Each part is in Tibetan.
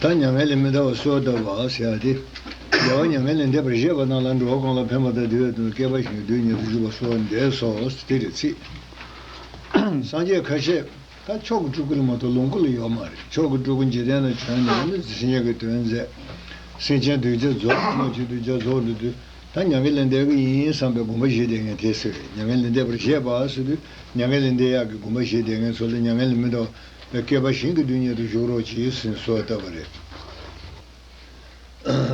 ད་མྱ་ངན་ལས་མི་འདའ་བར་གསོལ་བ་བཏབ་བ་ཞེས་བྱ་སྟེ། རྒྱལ་བ་མྱ་ངན་ལས་འདས་པར་བཞེད་པ་རྣམས་ལ་འགྲོ་བ་གང་ལ་ཕན་པ་དང་དེ་བས་དོན་སྐྱེད་པ་བཞིན་དུ་རྡུལ་སྙེད་དུ་བཞུགས་པ་སོགས་འདས་སོ། དེ་རེ་ཚིག། སངས་རྒྱས་ཁ་ཤས། ད་མཆོག་གི་སྤྲུལ་སྐུ་ལ་མ་གཏོགས་ལོངས་སྐུ་ལ་ཡོད་མ་རེད། མཆོག་གི་སྤྲུལ་སྐུ་འཇིག་རྟེན་ན་བྱོན་ནས་ནི་སངས་རྒྱས་ཀྱི་དོན་མཛད། སེམས་ཅན་གདུལ་བྱ་རྫོགས་པར་སྨོད་བྱེད་གདུལ་བྱ་རྫོགས་འགྲོ་དུས། ད་མྱ་ངན་ལས་འདས་ཀྱི་ཡིན་བསམ་པའི་སྒོམ་པ་བཞི་དེ་ངས་དེ་ཟེར་མྱ་ངན་ལས་འདས་པར་བཞེད་པ་སོ་དུས་མྱ་ངན་ལས་འདས་ཡག་གི་སྒོམ་པ་བཞི་དེ་ངས་ཚོ་ལ་མྱ་ངན་ལས་མི་འདའོ་བའི་སྐལ་པ་གཞན་གྱི་དུས་ཉལ་དུ་བཞུགས་རོགས་གྱིས་ཟིན་གསོལ་བཏབ་པ་རེད།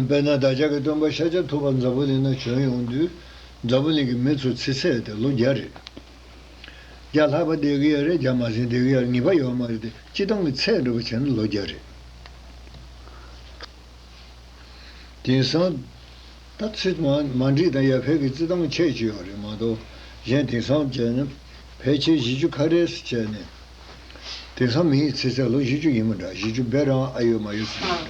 དཔེར་ན་བདག་ཅག་གི་སྟོན་པ་ཤཱཀྱ་ཐུབ་པ་འཛམ་བུ་གླིང་ན་བྱོན་ཡོང་དུས། འཛམ་བུ་གླིང་གི་མི་ཚོ་ཚེ་ཚད་དེ་ལོ་བརྒྱ་རེད། བརྒྱ་ལྷག་པ་འདས་གི་ཡ་རེད་བརྒྱ་མ་ཟིན་འདས་གི་ཡར་ངེས་པ་ཡོད་མ་རེད་དེ་སྤྱི་བཏང་གི་ཚད་འགྲུབ་པ་བྱས་ན་ལོ་བརྒྱ་རེད། དེང་སང། ད་ཚིག་མ་འགྲིག་དང་ཡ་ཕལ་གྱི་རྩི་ཐང་ཆད་ཀྱི་ཡོད་རེད་མ་གཏོགས་གཞན་དེང་སང་བྱས་ན། ཕལ་ཆེར་བཞི་ཅུ་ཁ་རས་སུ་བྱས་ནས། དེང་སང་མི་ཡི་ཚེ་ཚད་ལོ་བཞི་ཅུ་ཡིན་མོད་འདྲ་བཞི་ཅུ་བས་རང་ཨ་ཡོད་མ་ཡོད་ཚོད་ཡིན་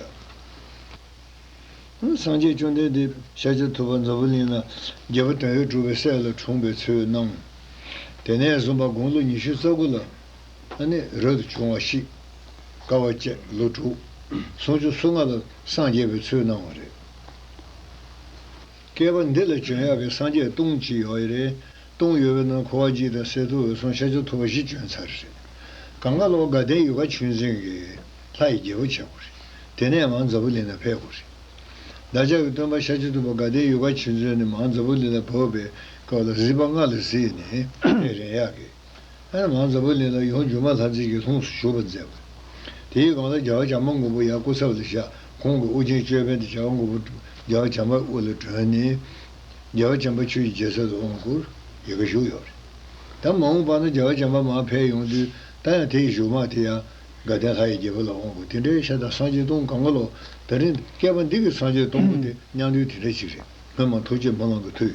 འདྲ། སངས་རྒྱས་བཅོམ་ལྡན་འདས་ཤཱ་ཀྱ་ཐུབ་པ་འཛམ་བུ་གླིང་ན་རྒྱལ་པོ་དོན་ཡོད་གྲུབ་པའི་སྲས་ལ་འཁྲུངས་པའི་ཚུལ་སྣང། དེ་ནས་བཟུང་པ་དགུང་ལོ་ཉི་ཤུ་རྩ་དགུ་ལ། ཨ་ནི་རབ་ཏུ་བྱུང་བ་ཞིག། བསྐལ་བ་བཅད་ལོ་དྲུག། སུམ་ཅུ་སོ་ལྔ་ལ་སངས་རྒྱས་པའི་ཚུལ་སྣང་བ་རེད། བསྐལ་པ་འདི་ལ་བྱོན་ཡག་གི་སངས་རྒྱས་སྟོང་གཅིག་ཡོག་ཡེ་རེད། སྟོང་ཡོད་པའི་ནང་འཁོར་བ་གཅིག་དང་གསེར་ཐུབ་འོད་སྲུང་ཤ་ཆུ་ཐོག་བཞི་བྱོན་ཚར་རེད། གངས་དཀར་ལོག་དགའ་ལྡན་ཡུལ་ཁ་ཆུ་འཛིན་གྱི་ལྷ་ཡི་རྒྱལ་པོ་བྱེད་དགོས་རེད། དེ་ནས་མང་རྫ་བུ་ལི་ན་ཕེབས་དགོས་རེད། བདག་ཅག་གི་སྟོན་པ་ཤ་ཆུ་ཐུབ་པ་དགའ་ལྡན་ཡུལ་ཁ་ཆུ་འཛིན་ནས་མང་རྫ་བུ་ལི་ན་བབས་པའི་སྐབས་ལ་གཟིགས་པ་སྔ་ལ་གཟིགས་ནས་རེད་ཡག་གི། ཨེར་མཱོན་ཛེ་བུ་ལིན་ལ་ཡོངས་འགྱུར་མ་ལྷ་མཛེས་ཀྱི་ལྷུམས་སུ་ཞུགས་པར་མཛད། དེའི་སྒང་ལ་རྒྱལ་བ་བྱམས་པ་མགོན་པོ་ཡང་སྐུ་ཚབ་ལ་བཞག་ཁོང་གི་དབུ་རྒྱན་ཅོད་པན་དེ་བྱ་བ་མགོན་པོ་རྒྱལ་བ་བྱམས་པའི་དབུ་ལ་བསྒྲོན་ནས། རྒྱལ་བ་བྱམས་པ་ཆོས་ཀྱི་རྒྱལ་སྲས་སུ་འོང་སྐོར་ཡི་གེ་ཞུ་ཡོད་པ་རེད། ད་མ་འོངས་པ་ན་རྒྱལ་བ་བྱམས་པ་མར་ཕེབས་ཡོང་དུས་ད་ཡང་དེ་ཡི་བཞུགས་དམག་དེ་ཡང་དགའ་ལྡན་ལྷ་ཡི་རྒྱལ་པོ་ལ་འོང་སྐོར་དེ་འདྲའི་ཤ་ད་སངས་རྒྱས་སྟོང་གང་ག་ལོ་ད་རིང་སྐལ་པ་འདི་གི་སངས་རྒྱས་སྟོང་པོ་དེ་སྙང་དུས་དེ་འདྲ་ཅིག་རེད་སྔོན་མ་ཐུགས་རྗེ་མོ་གླང་གི་དུས།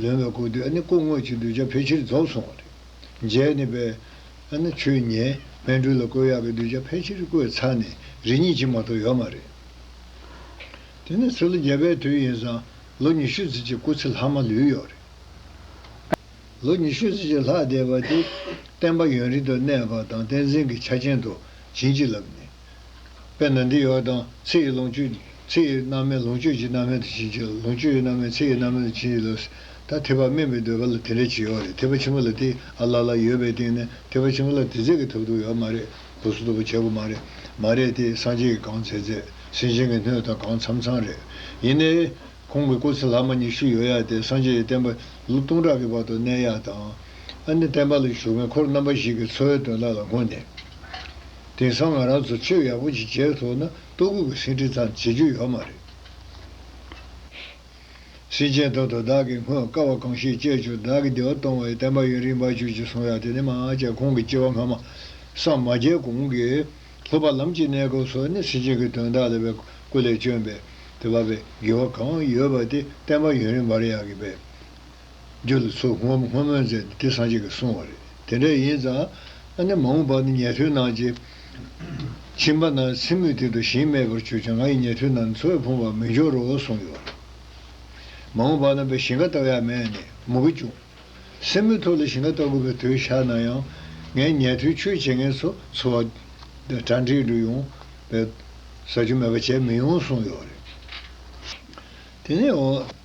ལོན་བའི་སྐུ་དེ་ནི་སྐུ་དངོས་ཀྱི་གདུལ་བྱ་ཕལ་ཆེར་རྫོགས་སོང་བ་རེད། མཇལ་ནི་པའི། ཆོས་ཉན། སྨན་སྤྲུལ་ལ་བསྐོས་ཡག་གི་གདུལ་བྱ་ཕལ་ཆེར་བསྐོས་ཚར་ནས་རི་ཉིལ་གྱིན་མ་གཏོགས་ཡོད་མ་རེད། དེ་ནི་ཚེ་ལོ་བརྒྱད་པའི་དུས་ཡིན་ཙང་ལོ་ཉི་ཤུ་ཚུན་ཆད་སྐུ་ཚེ་ལྷག་མ་ལུས་ཡོད་རེད། ལོ་ཉི་ཤུ་ཚུན་ཆད་ལྷག་བསྡད་པ་དེ། བསྟན་པ་ཡུན་རིང་དུ་གནས་པ་དང་བསྟན་འཛིན་གྱི་ཆ་ཅན་དུ་བྱིན་གྱིས་བརླབས་ནས། དཔེར་ན་འདི་ཡོད་པ་དང་ཚེ་ཡི་ལོངས་སྤྱོད། ཚེ་ཡི་རྣམ་སྨིན་ལོངས་སྤྱོད་ཀྱི་རྣམ་སྨིན་དུ་བྱིན་གྱིས་བརློབ། ལོངས་སྤྱོད་ཀྱི་རྣམ་སྨིན་ཚེ་ཡི་རྣམ་སྨིན་དུ་བྱིན་གྱིས་བརློབ། ད་ཐེག་པ་སྨིན་པའི་འདོད་པ་ལ་དེ་འདྲའི་བྱིས་ཡོད་རེད་ཐེག་པ་ཆེན་པོ་ལ་དེ་ཨ་ལ་ལ་ཡོད་པའི་སྟེང་ནས་ཐེག་པ་ཆེན་པོ་ལ་དེ་རྫས་ཀྱི་ཐབས་རྡུགས་ཡོད་མ་རེད་གོ་སོ་རྡུགས་པ་བྱེད་དགོས་མ་རེད་མ་རེད་དེ་སངས་རྒྱས་ཀྱི་གང་མཛད་མཛད་སེམས་ཅན་གྱི་སྣོད་དང་གང་འཚམ་འཚམ་རེད་ཡིན་ནའི། ཁོང་གི་སྐུ་ཚེ་ལྷག་མ་ཉི་ཤུ་ཡོད་ཡ་དེ་སངས་རྒྱས་ཀྱི་བསྟན་པ་ལོ་སྟོང་ཕྲག་གི་བར་དུ་གནས་ཡ་དང། ཨ་ནི་བསྟན་པ་ལ་ཞུགས་མཁན་འཁོར་རྣམ་པ་ཞིག་གི་འཚོ་བའི་དོན་དག་ལ་སྔོན་ནས། དེང་སང་ང་རང་ཚོ་ཆོས་ཡག་པོ་ཅིག་བྱས་ཐོག་ན་ལྟོ་སྐུད་ཀྱི་སེང་ཁྲི་ཙམ་བྱེད་རྒྱུ་ཡོད་མ་རེད། སེང་ཆེན་ཐོག་ཏུ་བདག་གིས་སྔོན་དཀའ་བ་གང་ཞིག་སྤྱད་བཅུག་བདག་གི་བདེ་བ་སྟོང་བའི་བསྟན་པ་ཡུན་རིང་བར་གྱུར་ཅིག་གསུང་ཡ་དེ་ནས་མ་བསྐྱལ་ཁོང་གི་སྐྱེ་བ་སྔ་མ། སངས་མ་རྒྱས་གོང་གི། ལྷོ་པ་ལམ་གྱི་གནས་སྐབས་སོགས་ནི་སེང་ཆེན་གྱི་དོན་དག་ལ་བའི་སྐུ་ལས་བསྐྱོན་པས་དེ་བབས་པའི་དགེ་བ་གང་ཡོད་པ་དེ་བསྟན་པ་ཡུན་རིང་བར་ཡག་གི་བས། རྒྱུ་དེ་ཚོ་སྔོ་སྔོ་མོན་ཟེར་ཏེ་དེ་སངས་རྒྱས་ཀྱིས་གསུངས་བ་རེད། དེ་འདྲ་ཡིན་ཙང། ཨ་ནི་མ་འོངས་པར་ནི་ཉལ་ཐུལ་ནང་གི། ཁྱིམ་པ་ན་ཚི་མུད་དེ་དུ་ཞིང་མེད་པར་གྱུར་ཀྱང་ང་ཡི་ཉལ་ཐུལ་ན་ནི་འཚོ་བའི་ཕུང་བར་མི་འགྱུར་རོ་གསུངས་ཡོད་རེད། མ་འོངས་པར་ན་བའི་ཞིང་ཁ་བལྟ་ཡ་མེད་ནས་མུ་གེ་བྱུང། སེན་མོའི་ཐོག་ལ་ཞིང་ཁ་བལྟ་དགོས་པའི་དུས་ཤར་ན་ཡང། ངའི་ཉལ་ཐུལ་ཆོས་བྱེད་མཁན་ཚོ་འཚོ་བ། གྲ་འགྲིག་འགྲོ་ཡོང། བའི། ཟ་རྒྱུ་མེད་པ་བྱས་མི་ཡོང་གསུངས་ཡོད་རེད། དེ་ནས།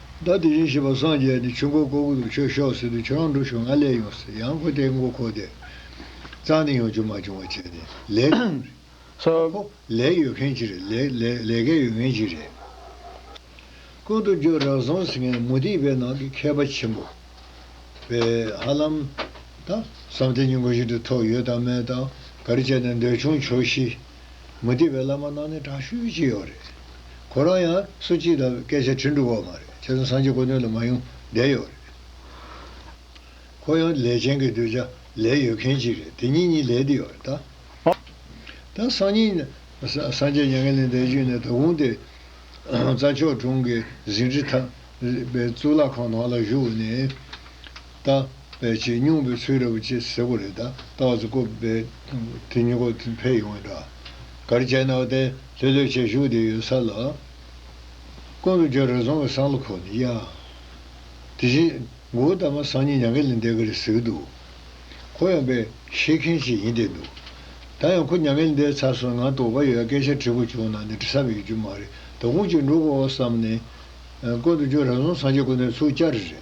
ཟླ་དེ་བཞིན་ཞེས་པ་སངས་རྒྱས་ནས་ཆུ་འགོ་བརྐོ་གུ་དུ་ཁྱོད་ཤོག་ཟེར་དུས་ཁྱོད་རང་འགྲོ་བྱུང་ང་སླེབས་ཡོང་ཟེར་ཡང་ཁོ་དེའི་མགོ་ཁོག་དེད། གཙང་ནས་ཡོང་རྒྱུ་མ་བྱུང་བ་བྱས་ནས་ལས་ཀ་ཡོད་རེད། ཁོ་ལས་ཡོད་མཁན་ཅིག་རེད། ལས་ཀ་ཡོད་མཁན་ཅིག་རེད། ཀུན་ཏུ་རྒྱུ་རགས་ཟོང་ཟེར་མཁན་མུ་ཏིག་པའི་ནང་གི་མཁས་པ་ཆེན་པོ། པས་ཧ་ལམ། ད། བསམ་གཏན་གྱི་མགོ་ཤིན་ཏུ་མཐོ་ཡོད་དང་མེད་དང། ག་རེ་བྱས་ནས་འདོད་ཆུང་བྱོས་ཤིག། མུ་སྟེགས་པའི་བླ་མ་རྣམས་ནི་དྲག་ཤུལ་གྱི་ཡོག་རེད། ཁོ་རང་ཡང་སུ་ཅིས་ད་སྐད་ཆ་དྲི་འདུག་བ་མ་རེད་ཁྱེད་ཚོ་སངས་རྒྱས་དཀོན་སྟོན་ལ་མ་ཡོང་བསྡད་ཡོག་རེད། ཁོ་ཡང་ལས་ཅན་གྱི་གདུལ་བྱ་ལས་ཡོད་མཁན་ཅིག་རེད་དེ་གཉིས་གཉིས་ལས་བསྡད་ཡོག་རེད་ད། ད་སང་ཉིན་སངས་རྒྱས་མྱ་ངན་ལས་འདས་རྗེས་ནས་ད་གུང་དེ་རྩ་མཆོག་དྲུང་གི་ཟིན་བྲིས་ཐག་པའི་གཙུག་ལག་ཁང་ནང་ལ་བཞུགས་ནས། དང། བས་ཆེས་སྙུང་བའི་ཚུལ་རེད་བ་ཅེས་ཟེར་གོ་རེད་ད་ལྟ་བ་ཚོ་ཀོ་བས་དེ་སྙུ་གོ་དེ་འཕེལ་ཡོང་བའི་འདྲ། གར་བྱས་ན་བ་དེ་ལྷོད་ལྷོད་བྱས་བཞུགས་དེ་ཡོད་ས་ལ། ཀོ་ལུ་རྒྱ་རི་རྫོང་གི་སང་ལོ་ཁོ་ནི་གཡའ། དེ་བཞིན་མགོ་བོ་དར་མ་སང་ཉིན་ཉང་ཁེ་ལི་འདས་ག་རེ་ཟེར་གི་འདུག་ཁོ་ཡང་པས་ཤེས་མཁན་ཞིག་ཡིན་བསྡད་འདུག་ད་ཡང་ཁོ་ཉང་ཁེ་ལི་འདས་ཚར་སོང་ང་དོགས་པ་ཡོད་སྐད་ཆ་དྲི་བོ་བྱུང་ན་ནི་དྲི་ས་མི་ཡོད་རྒྱུ་མ་རེད་ད་ཁུངས་གཅིག་འགྲོ་དགོས་བ་བསམ་ནས། ཀོ་ལུ་རྒྱ་རི་རྫོང་སང་ཆེན་ཀོ་ནེར་ཚུགས་བསྐྱར་རེད།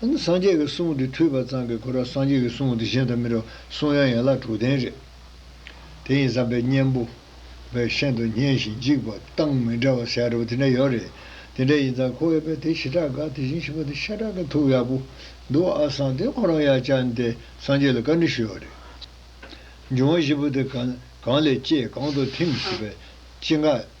སངས་རྒྱས་ཀྱི་གསུང་དེ་ཐོས་པ་ཙམ་གྱིས་གོ་ར་སངས་རྒྱས་ཀྱི་གསུང་དེ་གཞན་དང་མི་འདྲ་བ་གསུང་དབྱངས་ཡན་ལག་དྲུག་ལྡན་རེད། དེ་ཡིན་བསམ་པའི་གཉེན་པོ། བའི་ཤིན་ཏུ་སྙན་ཞིང་འཇིགས་པ་སྟངས་མི་འདྲ་བ་ཟེར་ཡག་རེད་པོ་དེ་འདྲ་ཡོད་རེད། དེ་འདྲ་ཡིན་ཙང་ཁོ་བོས་དཔེ་དེ་ཞི་དྲག་དགའ་དེ་བཞིན་ཞི་བ་དེ་ཤ་དྲག་གི་ཐུགས་ཡག་པོ་འདུག་ཨ་སངས་དེ་ཁོ་རང་ཡག་བཅར་འདས་སངས་རྒྱས་ལ་བཀའ་འདྲི་ཞུས་བ་རེད། འབྱུང་བ་བཞི་པོ་དེ་གང་ལས་སྐྱེས་གང་དུ་ཐིམ་ཞེས་པའི་སྤྱི་འགག།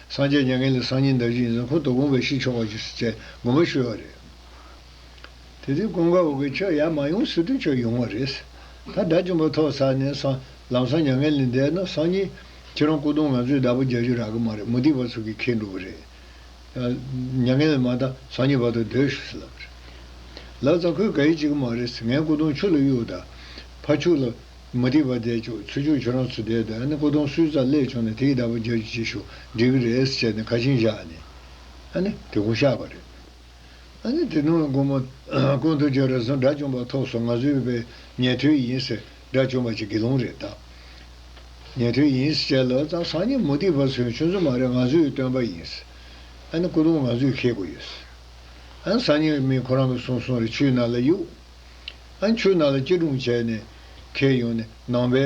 སངས་རྒྱས་མྱ་ངན་ལས་སངས་ཉིན་ཟླ་བཞི་ཡིན་ཙང་ཁོང་དོ་དགོངས་པའི་ཕྱིར་ཆོག་པ་ཞིག་བཅས་དགོངས་པ་ཞུས་བ་རེད། དེ་དུས་ཀུན་དགའ་བོ་གིས་ཁྱོད་ཡར་མ་ཡོང་ཟེར་དུས་ཁྱོད་ཡོང་བ་རེད། ད་དགྲ་བཅོམ་པ་ཐོག་ཚར་ནས་སང་ལམ་སང་མྱ་ངན་ལས་འདས་ན་སང་ཉིན། ཁྱེད་རང་སྐུ་གདུང་ང་ཚོས་བདག་པོ་རྒྱག་རྒྱུ་རག་གི་མ་རེད་མུ་ཏིག་བ་ཚོ་གིས་ཁེངས་འདུག་པ་རེད། མྱ་ངན་ལས་མ་འདའ་སང་ཉིན་བར་དུ་སྡོད་ཞུས་ལབ་པ་རེད། ལབ་ཙང་ཁོས་ག་ཡིས་བྱེད་གི་མ་རེད། ངའི་སྐུ་གདུང་ཆུ་ལ་གཡུགས་ད། ཕ་ཕྱུགས་ལ། མ་འགྲིག་པ་བསྡད་བཅུག་ཚུལ་བཅུག་ཁྱོད་རང་ཚོ་བསྡད་འདུག་ཨ་ནི་སྐུ་གདུང་སུས་རྩ་ཀླད་བྱུང་ནས་དེ་ཡི་བདག་པོ་རྒྱབ་ཀྱི་ཅིག་ཤོ་འགྲིག་གི་རེད་ཟེར་བྱས་ནས་ཁ་ཆིངས་བཞག་ནས་ཨ་ནི་དེ་གོ་ཤག་པ་རེད། ཨ་ནི་དེ་ནོའི་དགོང་མོ་ཀུན་ཏུ་རྒྱ་རི་སོང་དགྲ་བཅོམ་པ་ཐོག་སོང་ང་ཚོའི་བོད་པའི་ཉན་ཐོས་ཡིན་ཟེར་དགྲ་བཅོམ་པ་ཅིག་དགེ་སློང་རེད་གདའ། ཉན་ཐོས་ཡིན་ཟེར་བྱས་ལོ་ཙང་སང་ཉིན་མུ་ཏིག་བ་ཚོའི་ཆུ་མཛོད་མ་རེད་ང་ཚོའི་སྟོན་པ་ཡིན་ཟེར་ཨ་ནི་སྐུ་གདུང་ང་ཚོས་ཁེལ་དགོས་ཡོད་ཟེར་ཨ་ནི་སང་ཉིན་མིན་ཁོ་རང་གི་སོང་སོང་རེད་ཆུའི་ནང་ལ་གཡུགས། ཨ་མཆོད་ནང་ལ་སྐྱིལ་ཀྲུང་བྱས་ནས། ཁེལ་ཡོང་ནས་ནང་པའི།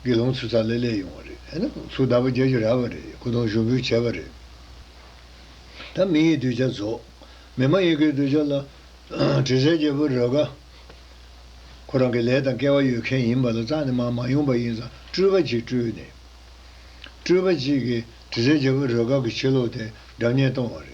དགེ་སློང་ཚོ་ཚ་ལེ་ལེ་ཡོང་བ་རེད། ཨེ་ནམ་ཚོ་ད་བར་རྒྱལ་གྱི་ར་བ་རེད་སྐུ་གདུང་ཞུགས་འབུལ་བྱས་པ་རེད། ད་མི་ཡི་གདུལ་བྱ་རྫོགས། མི་མ་ཡིན་གྱི་གདུལ་བྱ་ལ། དྲི་ཟའི་རྒྱལ་པོ་རོལ་དགའ། ཁོ་རང་གི་ལས་དང་སྐལ་བ་ཡོད་མཁན་ཡིན་པ་ལ་རྩ་ནས་མར་མ་ཡོང་པ་ཡིན་ཙང་སྤྲུལ་པ་གཅིག་སྤྲུལ་ནས། སྤྲུལ་པ་གཅིག་གིས་དྲི་ཟའི་རྒྱལ་པོ་རོལ་དགའ་གི་ཕྱི་ལོག་དེ་སྒྲ་བརྙན་གཏོང་བ་རེད།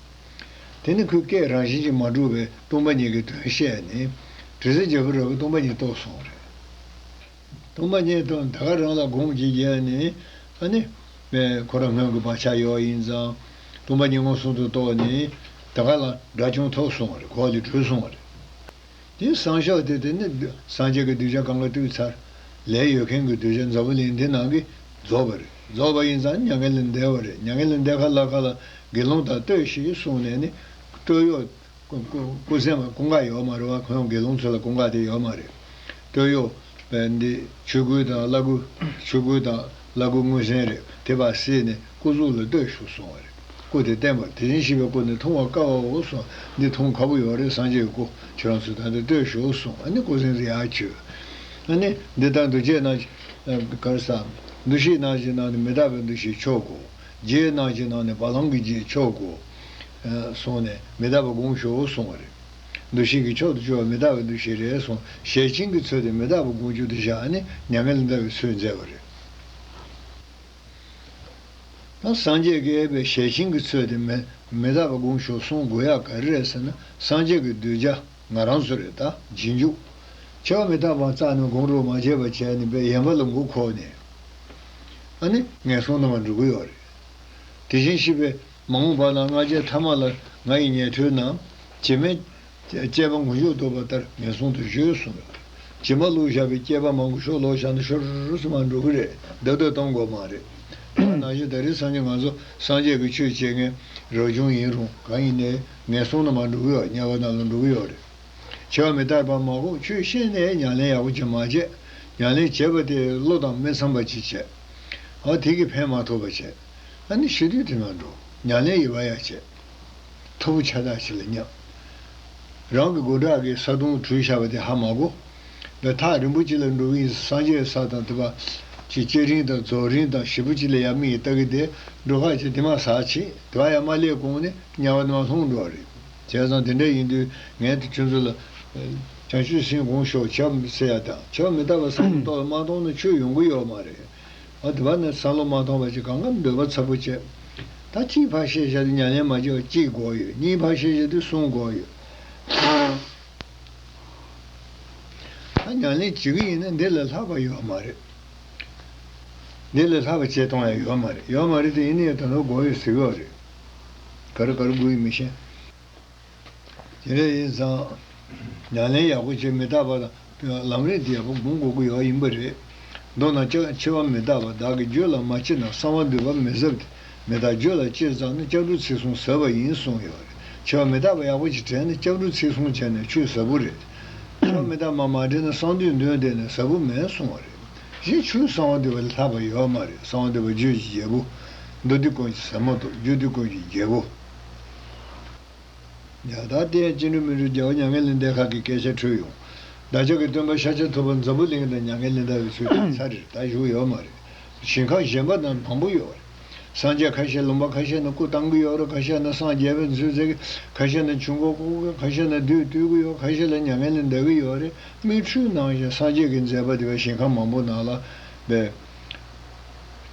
དེ་ནི་ཁོས་སྐད་རང་བཞིན་གྱིས་མ་འགྲོ་བའི་སྟོང་པ་ཉིད་ཀྱི་དོན་བཤད་ནས། དྲི་ཟའི་རྒྱལ་པོ་ར་བས་སྟོང་པ་ཉིད་རྟོགས་སོང་རེད། སྟོང་པ་ཉིད་རྟོགས་ད་ག་རང་ལ་དགོངས་བགྱིད་རྒྱ་ནི། ཨ་ནི། ཁོ་རང་སྔོན་གྱི་བག་ཆགས་ཡོད་ཡིན་ཙང། སྟོང་པ་ཉིད་མངོན་སུམ་དུ་རྟོགས་ནས། ད་ག་ལ་དགྲ་བཅོམ་ཐོབ་སོང་རེད་གོ་ལ་འདི་གྲོལ་སོང་རེད། དེ་བསང་ཤོག་དེ་དེ་ནི་སངས་རྒྱས་ཀྱི་གདུལ་བྱ་གང་ག་དུས་ཚར་ལས་ཡོད་མཁན་གྱི་གདུལ་བྱ་འཛམ་བུ་གླིང་འདི་ནང་གི་རྫོགས་པ་རེད་རྫོགས་པ་ཡིན་ཙང་མྱ་ངན་ལས་འདས་བ་རེད་མྱ་ངན་ལས་འདས་ཁ་ལག་ཁ་ལ་དགེ་སློང་དག་ལྟོས་ཞེས་གསུངས་ནས་ནི། སྤྲོ་གཡོག། སྐུ་གཟན་པ་ཀུན་དགའ་ཡོད་མ་རེད་བ་ཁོང་དགེ་སློང་ཚོ་ལ་ཀུན་དགའ་དེ་ཡོད་མ་རེད། སྤྲོ་གཡོག། འདི་ཆོས་སྐུ་དང་བླ་སྐུ། ཆོས་སྐུ་དང་བླ་སྐུ་དངོས་གཟན་རེད་དེ་བ་སྲིད་ནས། སྐུ་གཟུགས་ལ་ལྟོས་ཞུགས་སོང་བ་རེད། སྐུ་དེ་བསྟན་པ་དེ་བཞིན་གཤེགས་པའི་སྐུ་ནི་མཐོང་བར་དཀའ་བའོ་གསུང། འདི་མཐོང་ཁག་པོ་ཡོད་རེད་སངས་རྒྱས་ཀྱི་སྐུ། ཁྱོད་རང་ཚོས་ད་འདི་ལྟོས་ཞུགས་གསུང་ཨ་ནི་སྐུ་གཟིངས་སུ་ཡར་བསྐྱོད། ཨ་ནི། འདི་ལྟར་འདུ་བྱེད་སྣང། དཀར་ས། འདུ་ཤེས་སྣང་བྱེད་སྣང་ནི་མི་རྟག་པའི་འདུ་ཤེས་མཆོག་གོ། རྗེས་སྣང་བྱེད་སྣང་ནི་བ་ལང་གི་རྗེས་མཆོག་གོ། གསུང་ནས། མི་རྟག་པ་དགོངས་ཞུའོ་གསུང་བ་རེད། འདུ་ཤེས་ཀྱི་མཆོག་ཏུ་གཅོད་པ་མི་རྟག་པའི་འདུ་ཤེས་རེད་གསུང། ཞལ་བྱིན་གྱིས་མཚོན་ཏེ་མི་རྟག་པ་དགོངས་བཅུག་འདི་བཞག་ཨ་ནི་མྱ་ངན་ལས་འདའ་བའི་ཚུལ་མཛད་པ་རེད། ན། སངས་རྒྱས་ཀྱི་ཨེ་པའི་ཞལ་ཆིངས་ཀྱི་ཚོད་དེ་མེད་མི་རྟག་པ་དགུང་ཞོགས་གསུང་དགོས་ཡ་ག་རེ་རེད་ཟེར་ན་སངས་རྒྱས་ཀྱི་གདུལ་བྱ་ང་རང་ཚོ་རེད་ད་སྦྱིན་འཇུག་ཆེ་བ་མི་རྟག་པའང་རྩ་ནས་དགོངས་དཀྲོལ་མ་བྱས་པ་བྱས་ནས་པའི་ཡན་པ་ལ་མགོ་ཁོག་ནས་ཨ་ནི། ངན་སོང་རྣམས་ལ་འགྲོ་གི་ཡོག་རེད། དེ་བཞིན་གཤིས་པའི་མ་འོངས་པ་ལ་སྔ་རྗེས་མཐའ་མ་ལ་ང་ཡི་ཉན་ཐོས་རྣམས། བྱེ་སྨྲས། སྐྱེས་པ་ངུ་ཤོག་དོགས་པ་ལྟར་ངན་སོང་དུ་གཞོལ་སོང་ལ། ཇི་མ་ལུག་བཞག་པའི་སྐྱེས་པ་མ་ངུ་ཤོག་ལོག་བཞག་ན་ཤོར་སོ་མ་འགྲོ་གི་རེད་སྡོད་སྡོད་གཏོང་དགོས་མ་རེད། ཡང་ན་ཞེ་ད་རིགས་སངས་རྒྱས་ང་ཚོ་སངས་རྒྱས་ཀྱི་ཆོས་བྱེད་མཁན་རབ་བྱུང་ཡིན་རུང་གང་ཡིན་ནས་ངན་སོང་ན་མ་འགྲོ་གི་ཡོད་དམྱལ་བ་ན་ལ་འགྲོ་གི་ཡོད་རེད། བྱེ་བ་མི་རྟག་པ་མ་གོ་ཆོད་ཤེས་ནས་ཉམས་ལེན་ཡག་པོ་བྱེད་མ་བྱས། ཉམས་ལེན་བྱས་པ་དེ་བློ་དང་མི་འཚམས་པ་ཅིག་བྱས། ཨ་དེ་གིས་ཕན་མ་ཐོགས་པ་བྱས། ཨ་ནི་ཤི་དུས་དེ་མ་འགྲོ་ཉམས་ལེན་ཡི་བ་ཡག་བྱས། ཐོར་བུ་ཆ་དག་བྱེད་ལ་སྙམ། རང་གི་སྒོ་དྲག་གིས་ས་དོང་བྲུས་བཞག་པ་དེ་ཧ་མ་གོ། འདི་ཐག་རིན་པོ་ཆེ་ལ་འགྲོ་གི་ཡིན་སངས་རྒྱས་ས་དང་དེ་པ། ཅེས་སྐྱེ་རིང་དང་རྫོགས་རིང་དང་བཞི་པོ་གཅིག་ལ་ཡ་མི་ཡིས་བལྟ་གི་དེ་འགྲོ་ཁག་ཅིག་དེ་མ་ཟག་ཕྱིན་དེ་བ་ཡ་མ་སླེབས་གོང་ནས་དམྱལ་བ་ནི་མ་ལྷུང་འགྲོ་བ་རེད། བྱས་ཙང་དེ་འདྲ་ཡིན་དུས་ངན་དུ་ཁྱོད་ཚོ་ལ། བྱང་ཆུ་སྲིན་གོང་ཞོག་བྱབ་ཟེར་ཡ་དང་བྱབ་མི་ད་པ་སངས་རྒྱས་ཏོག་ལ་མ་གཏོང་ན་ཆོས་ཡོང་གི་ཡོད་མ་རེད། ཨ་དེ་བ་ནི་ས་ལོ་མ་སྟོང་བ་གཅིག་ག་ང་འདོད་པ་ཚ་པོ་བྱས། ད་གཅིག་ཕར་ཤེས་བྱ་དུ་མྱ་ལན་མ་བྱེད་པ་གཅིག་དགོས་ཡོད་གཉིས་ཕར་ཤེས་བྱ་དུ་གསུམ་དགོས་ཡོད། ད་མྱ་ལན་བྱེད་གི་ཡིན་ན་འདི་ལས་ལྷག་པ་ཡོད་མ་རེད། འདི་ལས་ལྷག་པ་བྱེད་སྟངས་ཡང་ཡོད་མ་རེད་ཡོད་མ་རེད་དེ་ཡིན་ན་ཡང་ད་དུང་དགོས་ཡོད་ཟེར་གི་ཡོད་རེད། ག་རེ་ག་རེ་དགོས་ཡོད་མི་ཤེས། དེ་འདྲ་ཡིན་ཙང། ཉམས་ལེན་ཡག་པོ་བྱས་མི་རྟག་པ་དང་ལམ་རིམ་དེ་ཡག་པོ་སྒོམ་དགོས་ཀྱི་ཡོད་ཡིན་པ་རེད། མདོར་ན་ཅག་འཆི་བ་མི་རྟག་པ་བདག་གི་རྒྱུད་ལ་མ་མཆིས་ན་གསང་བ་འདུས་པ་མི་ཟབ་སྟེ་མི་རྟག་རྒྱུད་ལ་སྐྱེས་ཙང་ན་ལྕགས་འབྲུ་ཚིག་བསྲུང་ཟབ་པ་ཡིན་གསུངས་ཡོད་རེད་འཆི་བ་མི་རྟག་པ་ཡག་པོ་ཅིག་དྲན་ནས་ལྕགས་འབྲུ་ཚིག་བསྲུང་བྱས་ནས་ཆུད་ཟབ་པོ་རེད། འཆི་བ་མི་རྟག་པ་མ་དྲན་ན་གསང་འདུས་འདོན་བསྡད་ནས་ཟབ་པོ་མེད་གསུངས་བ་རེད། གཞི་ཆུང་གསང་བ་འདུས་པ་ལས་ལྷག་པ་ཡོད་མ་རེད་གསང་བ་འདུས་པ་རྒྱུད་ཀྱི་རྒྱལ་པོ། མདོ་སྡེ་ཀུན་གྱི་ཟབ་མོ་དང་རྒྱུད་སྡེ་ཀུན་གྱི་རྒྱལ་པོ། ཉང་ཐང་སྟེ་ཅི་ནུས་མི་ནུས་རྒྱལ་བ་མྱ་ངན་ལས་འདས་ཁག་གི་སྐད་ཆ་ཐོས་ཡོང། བདག་ཅག་གི་སྟོན་པ་ཤཱཀྱ་ཐུབ་པ་འཛམ་བུ་གླིང་ལ་མྱ་ངན་ལས་འདའ་བའི་ཚུལ་དེ་ཚར་རེར་ད་བཞུགས་ཡོད་མ་རེད། ཞིང་ཁམས་གཞན་པ་ན་མང་པོ་ཡོད་རེད། སངས་རྒྱས་ཁ་ཤས་ལུང་པ་ཁ་ཤས་ན་སྐུ་བཏང་གི་ཡོད་རེད་ཁ་ཤས་ན་སངས་རྒྱས་པའི་མཛོད་བཙལ་གི་ཁ་ཤས་ན་ཆུ་འགོ་བརྐོ་གི་ཁ་ཤས་ན་རྡུལ་བཏུལ་གི་ཡོད་ཁ་ཤས་ལ་མྱ་ངན་ལས་འདའ་གི་ཡོད་རེད་མིག་འཕྲུལ་ནང་བཞིན་སངས་རྒྱས་ཀྱི་མཛད་པ་དེ་བས་ཞིང་ཁམས་མང་པོ་ནང་ལ་བས།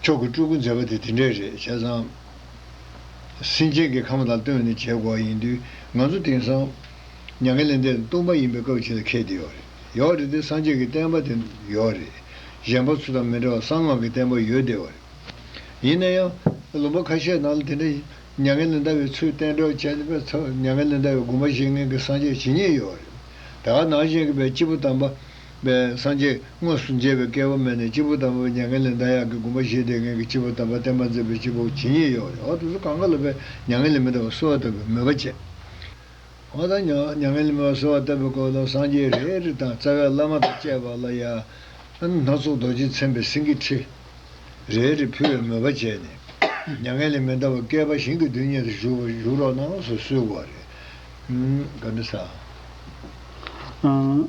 མཆོག་གི་སྤྲུལ་སྐུ་མཛད་པ་དེ་དེ་འདྲས་རེད་བྱས་ཙང། སེམས་ཅན་གྱི་ཁམས་དང་བསྟུན་ནས་བྱེད་དགོས་ཡིན་དུས་ང་ཚོ་དེང་སང། མྱ་ངན་ལས་འདས་དང་བསྟུན་པ་ཡིན་པའི་སྐབས་ཆེ་ལ་ཁད་དེ་ཡོད་རེད་ཡོད་རེད་དེ་སངས་རྒྱས་ཀྱི་བསྟན་པ་དེ་ཡོད་རེད། གཞན་པ་ཚོ་དང་མི་འདྲ་བར་གསང་སྔགས་ཀྱི་བསྟན་པ་ཡོད་བསྡད་ཡོད་རེད། ཡིན་ན་ཡང། ལུང་པ་ཁ་ཤས་ནང་ལ་དེ་འདྲ་མྱ་ངན་ལས་འདའ་བའི་ཚུལ་བསྟན་གྲོགས་བྱས་པས་མྱ་ངན་ལས་འདའ་བའི་དགོངས་པ་བཞེས་མཁན་གྱི་སངས་རྒྱས་ཇི་སྙེད་ཡོད་རེད། ད་ནང་བཞིན་གྱི་བའི་སྐྱེས་བུ་དམ་པ། པའི་སངས་རྒྱས་དངོས་སུ་མཇལ་བའི་སྐལ་བ་མེད་ནས་སྤྱི་བོ་དམ་པའི་མྱ་ངན་ལས་འདའ་ཡག་གི་སྒོམ་པ་བཞེས་ཏེ་ངན་གྱི་སྤྱི་བོ་དམ་པ་བསྟན་པ་མཛད་པའི་སྤྱི་བོ་ཇི་སྙེད་ཡོད་ཡོད་དུ་གསོལ་གང་ག་ལ་བས་མྱ་ངན་ལས་མི་འདའ་བར་གསོལ་བ་བཏབ་པའི་མོས་པ་བསྐྱེད། འོ་ན་མྱ་ངན་ལས་མི་འདའ་བར་གསོལ་བ་བཏབ་པའི་སྐོར་ལ་སངས་རྒྱས་རེ་རེ་དང་རྩ་བའི་བླ་མ་དང་བཅས་པ་ལ་ཡང། སྣ་ཚོགས་རྡོ་རྗེས་མཚན་པའི་སེང་གེ་ཁྲི། རེ་རེ་ཕུལ་བའི་མོས་པ་བྱས་ནས། མྱ་ངན་ལས་མི་འདའ་བར་བསྐལ་པ་ཞིང་གི་རྡུལ་སྙེད་དུ་བཞུགས་པར་བཞུགས་རོགས་གནང་ངོ་སོ་གསོལ་བ་རེ།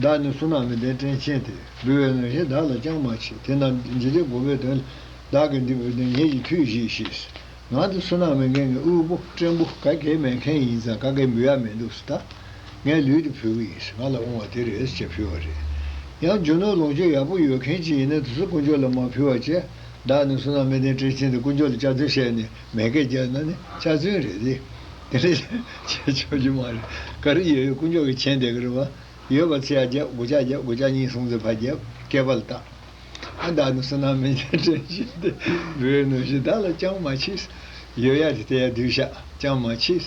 བདག་ནི་སུ་ན་མི་ལྡན་སྤྲིན་ཆེན་ཏེ། འབུལ་བའི་ནང་བཞིན་བདག་ལ་ཅང་མ་མཆིས། དེ་རྣམས་ཇི་སྟེ་བསྒོམ་པའི་དོན། བདག་གིས་འདི་བོས་ཏེ་ངེད་ཀྱི་མཐུས་གཞིས་ཤིག། ང་འདི་སུ་ན་མི་མཁན་གྱི་དབུལ་པོ་སྤྲིན་པོ་ག་གེ་མེད་མཁན་ཡིན་ཙང་ག་གེ་འབུལ་ཡ་མེད་འདུག་སི་ད། ངའི་ལུས་འདི་བུ་གུ་ཡིན་ང་ལ་དབང་བ་དེ་རེད་ཅེས་ཕུལ་བ་རེད། ཡང་རྒྱུ་ནོར་ལོངས་སྤྱོད་ཡག་པོ་ཡོད་མཁན་གཅིག་ཡིན་ན་དེ་ཚོ་དཀོན་མཆོག་ལ་མ་ཕུལ་བ་ཅི། བདག་ནི་སུ་ན་མི་ལྡན་སྤྲིན་ཆེན་ཏེ་དཀོན་མཆོག་ལ་བཅའ་ཚུན་བཤད་ནས་མེད་སྐད་རྒྱག་ན་ནི་བཅའ་ཚུན་རེད་དེ། དེ་ནི་བྱེད་ཆོག་རྒྱུ་མ་རེད། ག་རེ་ཡོད་ཡོད་དཀོན་མཆོག་གི་མཁྱེན་དེ་ག་རེ་བ། ཡོད་པ་ཚེ་ཡ་བརྒྱབ་སྒོ་ལྕགས་བརྒྱབ་སྒོ་ལྕགས་གཉིས་སོང་ཚེ་ཕ་བརྒྱབ་སྐལ་པ་ལ་བཏགས། ཨ་བདག་ནི་བསོད་ནམས་མན་ཆད་བྲན་བཞིན་ཏེ། བུའི་ནུ་ཞིག་བདག་ལ་ཅང་མ་མཆིས། ཡོད་ཡ་དེ་དེ་ཡ་བསྡུས་བཞག་ཅང་མ་མཆིས།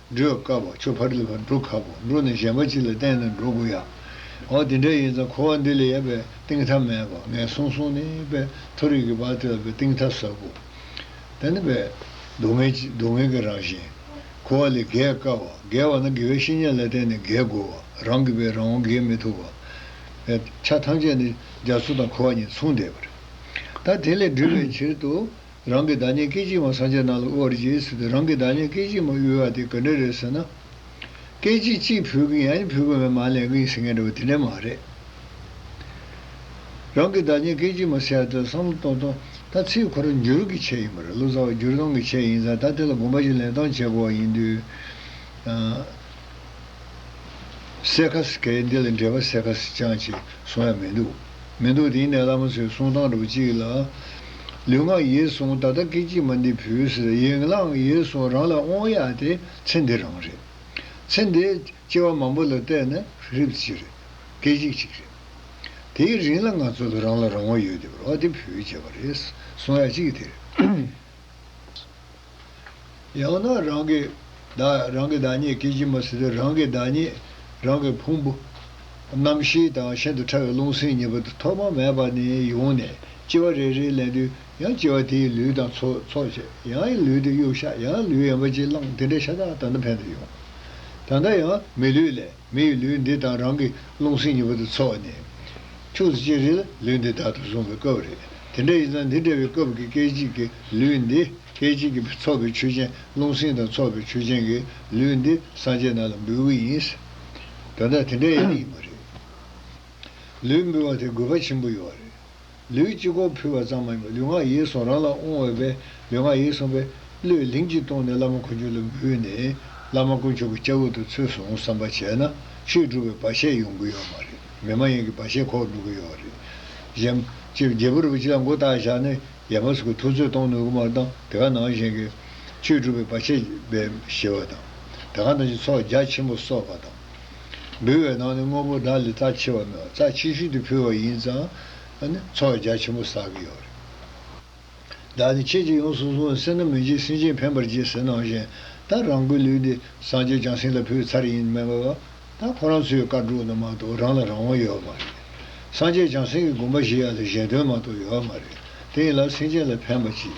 འགྲོས་དཀའ་བ་ཆོས་ཕ་རི་ལ་འགྲོ་ཁག་པོ་འགྲོ་ནས་གཞན་པ་ཅིག་ལ་བརྟེན་ནས་འགྲོ་དགོས་ཡ། འོ་དེ་འདྲ་ཡིན་ཙང་འཁོར་བ་འདི་ལས་ཡལ་བའི་གཏིང་མཐའ་མེད་པ་ངན་སོང་སོང་ནི་པའི་མཐོ་རིས་ཀྱི་བར་དེ་ལ་བའི་གཏིང་མཐའ་ཟབ་བོ། དེ་ནི་པའི། སྡུག་བསྔལ་གྱི་སྡུག་བསྔལ་གྱི་རང་བཞིན། འཁོར་བ་ལས་བརྒལ་དཀའ་བ་བརྒལ་བ་ན་དགེ་བའི་བཤེས་གཉེན་ལ་བརྟེན་ནས་བརྒལ་དགོས་བ་རང་གིས་པའི་རང་དབང་བརྒལ་མི་ཐུབ་བ། པའི། ཆ་ཐམས་ཅད་ནི་རྒྱ་མཚོ་དང་འཁོར་བ་གཉིས་མཚུངས་བསྡད་པ་རེད། ད་དེ་ལས་སྒྲོལ་བའི་ཕྱིར་དུ། རང་གི་བདག་ཉིད་སྐད་ཅིག་མ་སངས་རྒྱས་རྣམས་ལ་དབུལ་བར་བགྱི་ཟེར་ཏེ་རང་གི་བདག་ཉིད་སྐད་ཅིག་མ་དབུལ་བ་དེ་ག་འདྲ་རེད་ཟེར་ན། སྐད་ཅིག་གཅིག་ཕུལ་གིན་ཡང་ཕུལ་གིན་མེད་མ་ལེན་གིན་ཟེར་མཁན་འདྲ་བོ་དེ་འདྲ་མ་རེད། རང་གི་བདག་ཉིད་སྐད་ཅིག་མ་ཟེར་བ་དེ་ལ་བསམ་བློ་གཏོང་གཏོང་ད་ཚིག་འཁོར་འགྱུར་གྱི་ཆེད་ཡིན་པ་རེད་བློ་རྩ་བ་བསྒྱུར་གཏོང་གི་ཆེད་ཡིན་ཙང་ད་དེ་ལ་དགོངས་པ་གཅིག་ལེན་གཏོང་བྱེད་དགོས་བ་ཡིན་དུས། གསལ་ཁ་གསལ་ཁ་འདི་ལ་འགྲེལ་པ་གསལ་ཁ་གསལ་རྐྱང་ཅིག་གསུང་ཡ་མི་འདུག་མི་འདུག་དེ་ཡིན་ན་བླ་མ་ཚོའི་གསུང་སྟངས་འདྲ་པོ་གཅིག་ལ། ལུས་ངག་ཡིད་གསུམ་ད་ལྟ་སྐད་ཅིག་མ་འདི་བུས་ཟེར་ཡིན་ལངས་ཡིད་གསུམ་རང་ལ་དབང་ཡག་དེ་ཚེ་འདི་རང་རེད། ཚེ་འདི་སྐྱེ་བ་མང་པོ་ལ་བལྟས་ན་རིབ་གཅིག་རེད། སྐད་ཅིག་གཅིག་རེད། དེའི་རིང་ལ་ང་ཚོ་ལ་རང་ལ་རང་དབང་ཡོད་དེ་བར་བ་དེ་བུས་བྱས་པ་རེད་གསུང་ཡ་གཅིག་དེ་རེད། ཡང་ན་རང་གི་བདག། རང་གི་བདག་ཉིད་སྐད་ཅིག་མ་ཟེར་དུས་རང་གི་བདག་ཉིད། རང་གི་ཕུང་པོ། རྣམ་ཤེས་དང་ཤིན་ཏུ་ཕྲ་བའི་རླུང་སེམས་གཉིས་པོ་དེ་ཐོག་མ་མེད་པ་ནས་ཡོང་ནས་ལྕི་བ་རེ་རེ་ལེན་དུས་ཡང་ལྕི་བ་དེའི་ལུས་དང་ཚོགས་བྱས་ཡང་ལུས་དེ་གཡུག་ཤ་ཡང་ལུས་ཡན་པ་གཅིག་བླངས་དེ་འདྲའི་ཤ་ཐག་ད་ལྟ་ཕན་དུ་ཡོང། ད་ལྟ་ཡང་མི་ལུས་ལས། མི་ཡི་ལུས་འདི་དང་རང་གི་རླུང་སེམས་གཉིས་པོ་དེ་འཚོ་བ་ནི། ཁྱོད་ཚོ་ཅེ་རེ་ལ་ལུས་འདི་བདག་ཏུ་བཟུང་བའི་སྐབས་རེད། དེ་འདྲ་ཡིན་ཙང་འདི་འདྲ་བའི་སྐབས་ཀྱི་སྐད་ཅིག་གི་ལུས་འདི་སྐད་ཅིག་གིས་འཚོ་བའི་ཆོས་ཅན་རླུང་སེམས་དང་འཚོ་བའི་ཆོས་ཅན་གྱི་ལུས་འདི་སངས་རྒྱས་རྣམས་ལ་འབུལ་གྱི་ཡིན། དོན་དག་དེ་འདྲ་ཡང་ཡིན་པ་རེད། ལུས་འབུལ་བ་དེ་དགོས་པ་ཆེན་པོ་ཡོད་རེད། ལུས་སྤྱི་སྐོང་ཕུལ་བ་ཙམ་མ་ཡིན་པར་ལུས་ངག་ཡིད་གསུམ་རང་ལ་དབང་འོས་པས་ལུས་ངག་ཡིད་གསུམ་པས། བློས་ལིང་གཅིག་གཏོང་ནས་བླ་མ་ཁོ་རྒྱུད་ལ་འབུལ་ནས། བླ་མ་དཀོན་མཆོག་གི་སྐྱབས་འོག་ཏུ་ཚུལ་བཟུང་བསམ་པ་བྱས་ན། ཆོས་སྒྲུབ་པའི་བར་ཆད་ཡོང་གི་ཡོད་མ་རེད། མི་མ་ཡིན་གྱི་བར་ཆད་ཁོག་འགྲོ་གི་ཡོད་རེད། གཞན། རྒྱལ་པོ་རིན་པོ་ཆེ་ལ་མགོ་བཏགས་བཞག་ནས། ཡ་མ་ཟུག་གི་ཐུགས་ཚོད་གཏོང་ནུས་གི་མ་གཏང་དེ་ག་ནང་བཞིན་གྱི། ཆོས་སྒྲུབ་པའི་བར་ཆད། བའི་ཞེས་པ་དང། དེ་ག་ནང་བཞིན་ཚོགས་རྒྱ་ཆེན་པོ་གསོག་པ་དང། འབུལ་བའི་ནང་ནས་དངོས་པོ་བདག་ལས་རྩ་ཆེ་བ་ནོ། རྩ་ཆེ་ཤོས་དེ་ཕུལ་བ་ཡིན་ཙང། འཚོ་བ་རྒྱ་ཆེན་པོ་བསགས་ཀྱི་ཡོད་རེད། བདག་ནི་ཁྱེད་ཀྱིས་ཡོངས་སུ་བཟུང་བའི་སེར་སྣ་མི་འཇིགས་སེམས་ཅན་ཕན་པར་བགྱི་ཟེར་ནང་བཞིན་ད་རང་གི་ལུས་འདི་སངས་རྒྱས་བྱང་སེམས་ལ་ཕུལ་ཚར་ཡིན་སྨྲས་པ། ད་ཁོ་རང་ཚོའི་བཀའ་དྲུག་ནང་མ་གཏོགས་རང་ལ་རང་དབང་ཡོད་མ་རེད། སངས་རྒྱས་བྱང་སེམས་ཀྱི་དགོངས་པ་བཞི་ཡ་ལ་གཞན་དོན་མ་གཏོགས་ཡོད་མ་རེད། དེ་ཡིན་ལ་སེམས་ཅན་ལ་ཕན་པ་ཅི།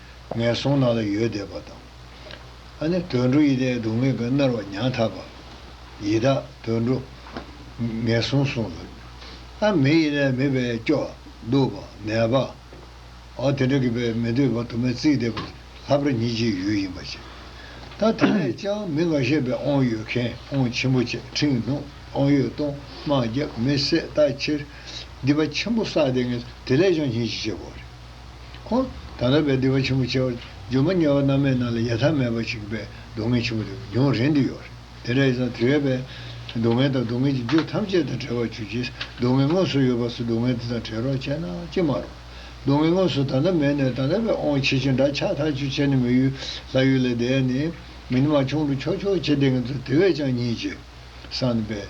ངན་སོང་ནང་ལ་ཡོད་བསྡད་པ་དང། ཨ་ནི་དུད་འགྲོ་ཡིད་བརྟན་སྡུག་བསྔལ་གྱིས་མནར་བ་མྱང་ཐག་པ། ཡི་དྭགས་དུད་འགྲོ། ངན་སོང་གསུངས་སོ། ཨ་མི་ཡིན་ན་མི་བས་སྐྱོ། སྡུག་པ། ནད་པ། ཨོ་དེ་འདྲ་གི་བས་མི་འདོད་པ་དུ་མས་རྩིས་བསྡད་པ་ལྷ་བར་ཉིད་ཀྱི་ཡུལ་ཡིན་པ་བྱས། ད་དེ་ནས་ཅང་མི་ང་ཤེས་པའི་ཨོང་ཡོད་མཁན་ཨོང་ཆེན་པོ་བཅས་ཁྲིང་ནུ་ཨོང་ཡོད་སྟོང་དམག་རྒྱབ་མི་བསད་ལྟ་ཕྱིར། སྡིག་པ་ཆེན་པོ་བསགས་བསྡད་ངན་དེ་ལས་ཅང་ཉིད་ཀྱི་བྱེད་པོ་རེད། ཁོང་དང་རབ་པའི་སྡིག་པ་ཆེན་པོ་བྱས་པ། སྒྱུ་མ་དམྱལ་བ་རྣམ་མེད་རྣམས་ལ་ཡལ་ཐབས་མེད་པ་ཞིག་པས་སྡུག་བསྔལ་ཆེན་པོ་དེ་མྱོང་རན་དུ་ཡོད་རེད། དེ་འདྲ་ཡིན་ཙང་དུས་རབས་པས། སྡུག་བསྔལ་དང་སྡུག་བསྔལ་གྱི་རྒྱུ་ཐམས་ཅད་དང་བྲལ་བར་གྱུར་ཅིག་སྡུག་བསྔལ་དངོས་སུ་ཡོད་པ་སོགས་སྡུག་བསྔལ་དེ་དང་བྲལ་རོགས་བྱས་ན་ཅི་མ་རུང། སྡུག་བསྔལ་དངོས་སུ་ད་ལྟ་མེད་ནས་ད་ལྟ་བས་ཨོང་ཆེ་ཆེ་འདྲ་ཆགས་ཐག་ཆོད་བྱས་ནས་མི་ཡུལ་ལྷ་ཡུལ་ལས་འདས་ནས། མི་ནི་མ་བྱུང་རུ་ཆོག་ཆོག་བྱས་ཏེ་ང་ཚོ་དེ་བས་ཀྱང་ཉིད་ཀྱི་སངས་པས།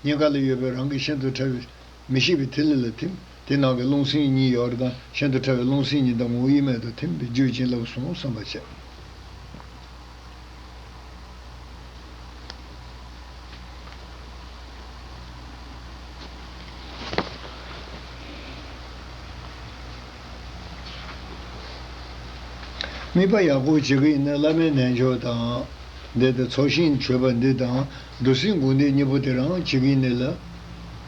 སྙིང་ག་ལ་ཡོད་པའི་རང་གི་ཤིན་ཏུ་ཕྲ་བའི། མི་ཤིགས་པའི་ཐིག་ལེ་ལ་ཐིམ། དེ་ནང་གི་རླུང་སེམས་གཉིས་ཡོར་དང་ཤིན་ཏུ་ཕྲ་བའི་རླུང་སེམས་གཉིས་དང་ངོ་བོ་དབྱེར་མེད་དུ་ཐིམ་པས་རྒྱུད་བྱིན་རླབས་གསུམ་བསམ་པར་བྱ། དམིགས་པ་ཡག་པོ་བྱེད་ཀྱི་ཡིན་ན་བླ་མའི་རྣལ་འབྱོར་དང། བཟླས་ཏེ་ཚོགས་ཞིང་མཆོད་པ་འདི་དང། བདུད་སྲིན་དགོན་སྡེ་གཉིས་པོ་དེར་འང་གཅིག་ཡིན་ནི་ལ།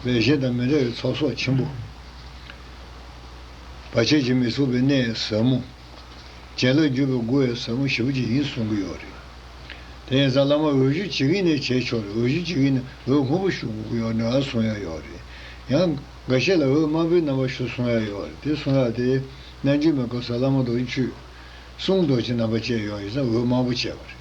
ལས་གཞན་དང་མི་འདྲ་བའི་ཚོགས་གསོག་ཆེན་པོ། བར་ཆད་བྱེད་མི་ཚུགས་པའི་གནས་ཟབ་མོ། རྒྱན་ལ་བརྒྱུད་པའི་སྒོ་བའི་ཟབ་མོ་བཞི་པོ་གཅིག་ཡིན་གསུང་གི་ཡོད་རེད། དེ་ཡིན་ཙང་བླ་མ་འོས་གཞི་གཅིག་ཡིན་ནི་བྱས་ཆོག་རེད་འོས་གཞི་གཅིག་ཡིན་ནི་འོས་སྔོན་པོ་ཞུ་དགོས་ཀྱི་ཡོད་ནའང་གསུང་ཡ་ཡོད་རེད། ཡང། འགའ་ཤས་ལ་འོས་དམའ་པོའི་རྣམ་པ་ཞུ་གསུང་ཡ་ཡོད་རེད་དེ་གསུང་ཡ་དེ། རྣལ་འབྱོར་མའི་སྐབས་སུ་བླ་མ་རྡོ་རྗེ་བཅུ། གསུང་རྡོ་རྗེ་རྣམ་པ་བཅས་ཡོང་ཡིན་ཙང་འོས་དམའ་པོ་བྱས་པ་རེད།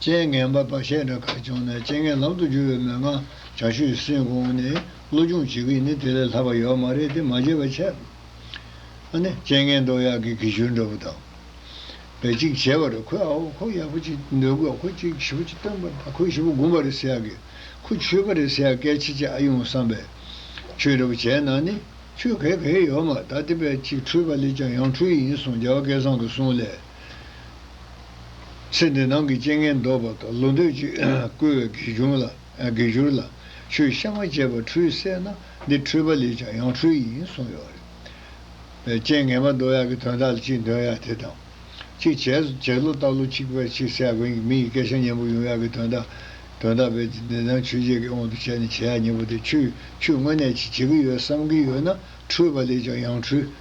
རྐྱེན་ངན་པ་བར་ཆད་འདྲ་གར་བྱུང་ན་རྐྱེན་ངན་ལམ་དུ་བསྒྱུར་བའི་མོས་ངང་བྱ་ཤུལ་ཡིན་སེམས་དགོངས་ནས་བློ་སྦྱོང་བྱེད་ཀྱི་ནི་དེ་ལས་ལྷག་པ་ཡོད་མ་རེད་དེ་མ་བརྗེད་པར་འཆད། ཨ་ནི་རྐྱེན་ངན་འདོགས་ཡག་གི་གི་ཞུར་འདྲ་བོ་དང། བས་གཅིག་བྱས་པ་རེད་ཁོས་ཨ་ཧོ་ཁོ་ཡག་པོ་ཅིག་འདོད་དགོས་ཁོ་གཅིག་བཞི་པོ་ཅིག་སྟོན་པར་ད་ཁོས་བཞི་པོ་སྒུམ་པ་རེད་ཟེར་ཡག་གི་ཁོ་ཆོས་པ་རེད་ཟེར་ཡག་སྐད་ཆེ་ཆེ་ཨ་ཡོང་བསམ་པས། ཆོས་འདྲ་བོ་བྱས་ན་ནི་ཆོས་གས་གས་ཡོད་མ་ད་དེ་བས་གཅིག་འཁྲུལ་པ་ལས་ཀྱང་ཡང་འཁྲུལ་ཡིན་སོང་རྒྱལ་བ་སྐལ་བཟང་དུ་གསུངས་ལས། ཚེ་འདི་སྣང་གི་རྐྱེན་ངན་བཟློག་པ་དང་ལོ་འདོད་ཀྱིས་བསྐུལ་བའི་དགེ་སྦྱོར་ལ། ཆུའི་གཤའ་མ་བཅད་པ་འཁྲུལ་བསལ་ན་འདི་འཁྲུལ་པ་ལས་ཀྱང་ཡང་འཁྲུལ་ཡིན་གསུངས་ཡོད་རེད། པའི་རྐྱེན་ངན་མ་བཟློག་ཡག་གི་དོན་དག་ལ་ཅིག་འདོན་ཡག་དེ་དང། གཅིག་བྱས་ལོ་བཏབ་ལོ་གཅིག་པས་ཅིག་བསལ་དགོས་ཡིན་མི་ཡི་སྐད་ཆ་སྙན་པོ་ཡོང་ཡག་གི་དོན་དག་དོན་དག་པས་འདི་འདི་དང་ཆོས་བྱེད་ཀྱི་དབང་དུ་བྱས་ནས་བྱེད་ཡག་སྙན་པོ་དེ་ཆུས་ཆུས་དངོས་གནས་ཅིག་བྱེད་ཀྱི་ཡོད་བསམ་གྱི་ཡོད་ན་འཁྲུལ་པ་ལས་ཀྱང་ཡང་འཁྲུལ།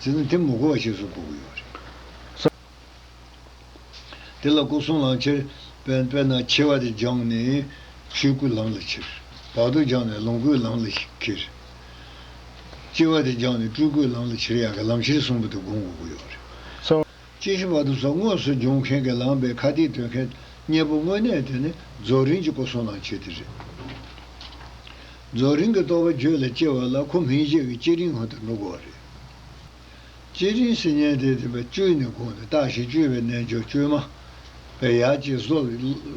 ཟེར་ན་དེ་མི་གོ་བ་ཞིག་བཟོ་དགོས་ཀྱི་ཡོད་རེད། དེ་ལ་སྐུ་གསུང་ལམ་ཁྱེར། དཔེར་ན་ཁྱེར་བ་དེ་སྦྱངས་ནས་ཆོས་སྐུའི་ལམ་ལ་ཁྱེར། བར་དོ་སྦྱངས་ནས་ལོངས་སྐུའི་ལམ་ལ་ཁྱེར། སྐྱེ་བ་དེ་སྦྱངས་ནས་སྤྲུལ་སྐུའི་ལམ་ལ་ཁྱེར་ཡག་གི་ལམ་ཁྱེར་གསུམ་པོ་དེ་བསྒོམ་དགོས་ཀྱི་ཡོད་རེད། དཔྱད་གཞི་བར་དུ་རྫོགས་དངོས་སུ་སྦྱོང་མཁན་གྱི་ལངས་པའི་ཁ་གཏད་གཏོད་མཁན་གཉེར་པོ་དངོས་གནས་དེ་ནི་རྫོགས་རིམ་གྱི་སྐུ་གསུང་ཐང་ཆེན་དེ་རེད། རྫོགས་རིམ་གྱི་རྟོགས་པ་རྒྱུད་ལ་སྐྱེ་བ་ལ་ཁོ་མིང་བཞེས་ཀྱི་བསྐྱེད་རིམ་ཧོན་དུ་འགྲོ་དགོས་བ་རེད། བསྐྱེད་རིམ་སིལ་སྙན་དེ་དེ་བས་བཅུད་ནས་དགོངས་ནས་བརྟགས་ཞིང་བཅོས་པའི་རྣལ་འབྱོར་བཅོས་མ། པའི་ཡར་སྐྱེ་བཟོ།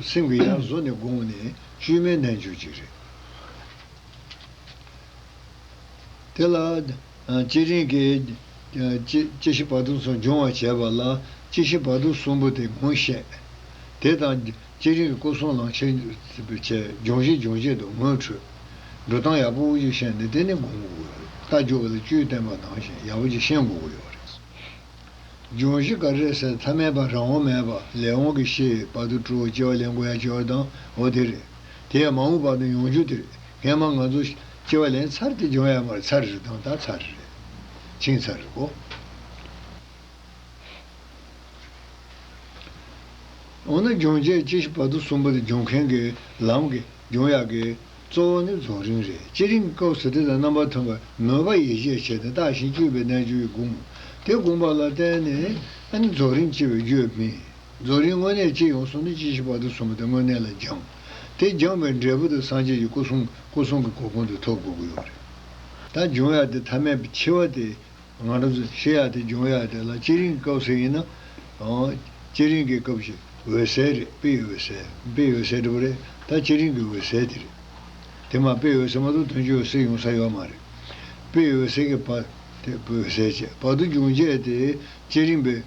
སེམས་ཀྱི་ཡར་བཟོ་ནས་དགོངས་ནས་བཅོས་མའི་རྣལ་འབྱོར་གཅིག་རེད། དེ་ལ། སྤྱི་རིང་གི། སྤྱི་ཞི་བར་དོ་ཚོ་སྦྱོང་བར་བྱས་པ་ལ་སྤྱི་ཞི་བར་དོ་གསུམ་པོ་དེ་ངོ་ཤེས། དེ་དང། སྤྱི་རིང་གི་སྐུ་གསུང་ལང་ཆེན། བྱས། སྦྱོང་བྱེད་སྦྱོང་བྱེད་དུ་ངོ་འཕྲོད། འགྲོ་སྟངས་ཡག་པོ་དབུ་ཅུ་ཤན་ནི་དེ་ནི་དགོངས་དགོས་ཀྱི་རེད། རྟ་རྒྱུག་གི་ལ་བཅུའི་བསྟན་པ་ནང་བཞིན་ཡག་པོ་ཅིག་ཤེས་དགོས་ཀྱི་ཡོད་རེད། སྦྱོང་བཞི་ཀ་རེ་ཟེར་མཐའ་མེད་པ་རང་འོང་མེད་པ་ལས་འོང་གི་ཤེས་བར་དོ་སྤྲོ་བ་སྐྱེ་བ་ལེན་དགོས་ཡ་སྐྱེ་བ་དང་འོ་དེ་རེད། དེ་ཡང་མ་འོངས་བར་དོ་ཡོང་རྒྱུ་དེ་རེད། ངས་མ་ང་ཚོ། ཅེས་པ་ལན་ཚར་དེ་འབྱུང་ཡ་མར་ཚར་རེད་དང་ལྟར་ཚར་རེད། ཕྱིན་ཚར་རེད་གོ། འོ་ན་འབྱུང་བྱེད་སྤྱི་བཞི་བར་དོ་གསུམ་པོ་དེ་འབྱུང་མཁན་གྱི་ལམ་གྱི་འབྱུང་ཡ་གྱི་གཙོ་བོ་ནི་རྫོགས་རིམ་རེད་སྤྱི་རིམ་སྐབས་སུ་དེ་དང་རྣམ་པར་མཐུན་པར་མོས་པ་ཡིད་ཆེས་བྱས་ཏེ་བརྟགས་ཤིང་དཔྱོད་པའི་རྣལ་འབྱོར་གྱིས་བསྒོམ། དེ་བསྒོམ་པ་ལ་བརྟེན་ནས་ནི་རྫོགས་རིམ་སྐྱེ་བའི་རྒྱུ་ཡོད་མིན། རྫོགས་རིམ་དངོས་གནས་སྐྱེ་ཡོང་སོང་ནི་སྤྱི་བཞི་བར་དོ་གསུམ་པོ་དེ་དངོས་གནས་ལ་སྦྱངས། དེ་སྦྱངས་པའི་འབྲས་བུ་དུ་སངས་རྒྱས་ཀྱི་སྐུ་གསུང་སྐུ་གསུང་གི་གོ་ཁུང་དུ་ཐོབ་དགོས་ཀྱི་ཡོད་རེད། ད་འབྱུང་ཡག་དེ་ཐ་མལ་པའི་འཆི་བ་དེ། ང་རང་ཚོས་ཤེས་ཡག་དེ་འབྱུང་ཡག་དེ་ལ་སྤྱི་རིང་གི་སྐབས་སུ་ཡིན་ན། སྤྱི་རིང་གི་སྐབས་ཀྱི་འོད་གསལ་རེད་དཔེ་ཡི་འོད་གསལ། དཔེ་ཡི་འོད་གསལ་འགྲུབ་པ་རེད་ད་སྤྱི་རིང་གི་འོད་གསལ་དེ་རེད། དེ་མ་དཔེ་ཡི་འོད་གསལ་མ་གཏོགས་དོན་གྱི་འོད་གསལ་ཡོང་ས་ཡོད་མ་རེད། དཔེ་ཡི་འོད་གསལ་གྱི་བར་དེ་འོད་གསལ་བྱས་བར་དུ་འབྱུང་བྱས་དེ་སྤྱི་རིང་པའི།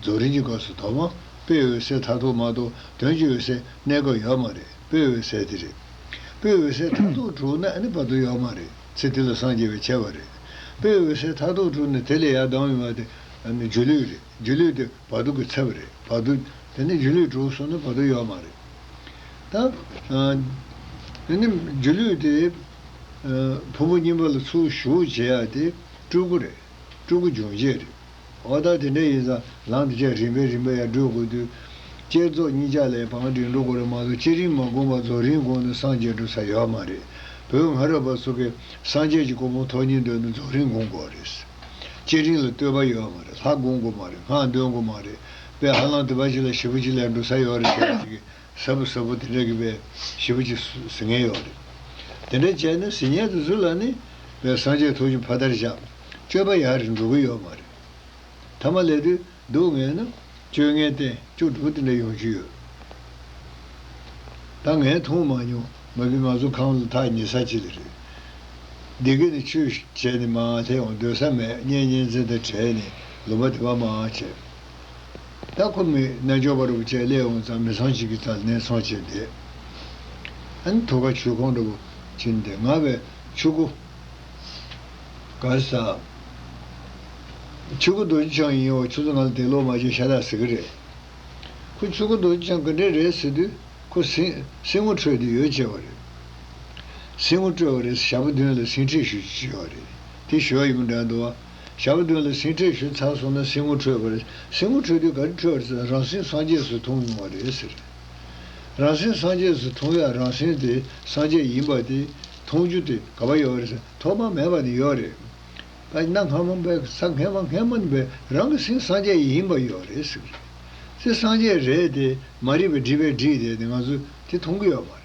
རྫོགས་རིམ་གྱི་སྐབས་སུ་དོགས་མ་དཔེ་འོད་གསལ་མཐའ་རྟོགས་མ་རྟོགས་དོན་གྱི་འོད་གསལ་གནས་སྐབས་ཡོད་མ་རེད་དཔེ་འོད་གསལ་དེ་རེད། དཔེ་འོད་གསལ་མཐའ་རྟོགས་གྲུབ་ན་ནི་བར་དོ་ཡོད་མ་རེད་ཚེ་དེ་ལ་སངས་རྒྱས་པའི་ཁྱད་པར་རེད། དཔེ་འོད་གསལ་མཐའ་རྟོགས་གྲུབ་ནས་དེ་ལས་ཡར་ལྡང་བའི་མ་དེ་ནི་སྒྱུ་ལུས་རེད་སྒྱུ་ལུས་དེ་བར་དོ་གི་ཚབ་རེད་བར་དོ་དེ་ནི་སྒྱུ་ལུས་གྲུབ་སོང་ནི་བར་དོ་ཡོད་མ་རེད། ད་ནི་སྒྱུ་ལུས་དེ་ཕུང་པོ་རྙིང་པ་ལ་ཚུར་ཞུགས་བྱེད་ཡག་དེ་སྤྲུལ་སྐུ་རེད་སྤྲུལ་སྐུ་འབྱུང་བྱེད་རེད། འོ་ད་དེ་འདྲ་ཡིན་ཙང་ལམ་དེ་ཆ་རིམ་པས་རིམ་པས་ཡར་བགྲོད་དགོས་དུས། བསྐྱེད་རྫོགས་གཉིས་ཆ་ལས་བང་སྒྲིག་འགྲོ་དགོས་རེད་མ་གཏོགས་སྤྱིར་རིང་མ་དགོངས་པར་རྫོགས་རིང་དགོངས་ནས་སངས་རྒྱས་འགྲོ་ས་ཡོད་མ་རེད། བོད་སྔ་རབས་པ་ཚོ་གིས་སངས་རྒྱས་ཀྱི་སྐུ་ཕུང་ཐོག་གཉིས་འདོན་ནས་རྫོགས་རིང་དགོངས་དགོས་རེད། སྤྱིར་རིང་ལ་ལྟོས་པ་ཡོད་མ་རེད་ལྷག་དགོངས་དགོས་མ་རེད་སྔགས་འདོན་དགོས་མ་རེད་པས་ཧ་ལམ་དེ་པ་ཅིག་ལ་བཞི་པོ་ཅིག་ལས་འགྲོ་ས་ཡོད་རེད་ཟེར་བ་ཞིག་གིས་གཟབ་པོ་གཟབ་པོ་དེ་འདྲ་གི་བའི་བྱིས་པ་གཅིག་ཟི་ངན་ཡོག་རེད། དེ་འདྲ་བྱས་ན་ཟི་ངན་དུ་ཟུ་ལ་ནི། བའི་སངས་རྒྱས་ཐུགས་ཀྱི་ཕ་དར་བཞག། སྤྱོད་པ་ཡག་རེད་འགྲོ་གི་ཡོག་མ་རེད། ཐ་མ་ལས་དུས་སྡུག་བསྔལ་ན། སྤྱོད་ངན་བསྟན་སྐྱོ་སྒྲུག་དེ་འདྲ་ཡོང་རྒྱུ་ཡོད། ད་ངས་མཐོང་མ་མྱོང་མ་གི་ང་ཚོ་ཁམས་ལ་ཐག་ཉེ་ས་ཅི་ལ་རེད། འདི་གི་ནི་ཆོས་བྱས་ནི་མ་འང་ལྷད་འོང་སྡོད་ས་མེད་བརྙན་བརྙན་འཛིན་དང་བྲལ་ནི་ལུང་པ་དེ་བ་མ་འང་བྱས། ད་ཁོ་མོས་རྣལ་འབྱོར་པ་རུ་བཅས་སླེ་འོང་ཙང་མི་ཚང་གཅིག་གི་རྩར་ནན་འཚང་བྱས་བསྡད། ཨན་དྷོ་ཁ་ཆུ་ཁོང་འདྲ་བོ་བྱིན་ཏེ་ང་བས་ཆུ་ཁོ། གར་ས། ཆུ་ཁོ་རྡོ་རྗེ་འཆང་ཡིན་འོ་ཁྱོད་ཚོ་ང་ལ་དད་ལོག་མ་བྱེད་ཤ་ཏག་ཟེར་གི་རེད། ཁོ་ཆུ་ཁོ་རྡོ་རྗེ་འཆང་ག་འདྲའི་རེད་ཟེར་དུས་ཁོ་སིང་སིང་ངོ་འཕྲོད་དུ་ཡོད་ཅེས་པ་རེད། སིང་ངོ་སྤྲོད་པ་རེད་ཟེར་ཞག་པོ་བདུན་ལ་སིང་ཁྲིད་ཞུ་རྒྱུ་ཅེས་པ་རེད་དེ་ཞོར་ཡིན་པ་འདྲ་འདུག་བྱ་བ་བདུན་ལ་སེམས་ཁྲལ་ཞུ་ཚར་སོང་ན་སེམས་ངོ་འཕྲོད་པར་སེམས་ངོ་འཕྲོད་དུས་ག་རེ་འཕྲོད་ཟེར་རང་སེམས་སངས་རྒྱས་སུ་མཐོང་མྱོང་བ་རེད་ཟེར། རང་སེམས་སངས་རྒྱས་སུ་མཐོང་ཡག་རང་སེམས་དེ་སངས་རྒྱས་ཡིན་པ་དེ་མཐོང་རྒྱུ་དེ་ག་བ་ཡོད་རེད་ཟེར་ཐོག་མ་མེད་པ་ནི་ཡོད་རེད། ད་ནངས་སྔ་མོ་འབའ་ས་སྔས་མ་སྔས་མོ་ནི་འབའ་རང་གི་སེམས་སངས་རྒྱས་ཡིན་པ་ཡོད་རེད་ཟེར། སེམས་སངས་རྒྱས་རེད་དེ་མ་རེད་པའི་བསྒྲིབས་པའི་བསྒྲིགས་དེ་ནི་ང་ཚོས་དེ་མཐོང་གི་ཡོད་མ་རེད།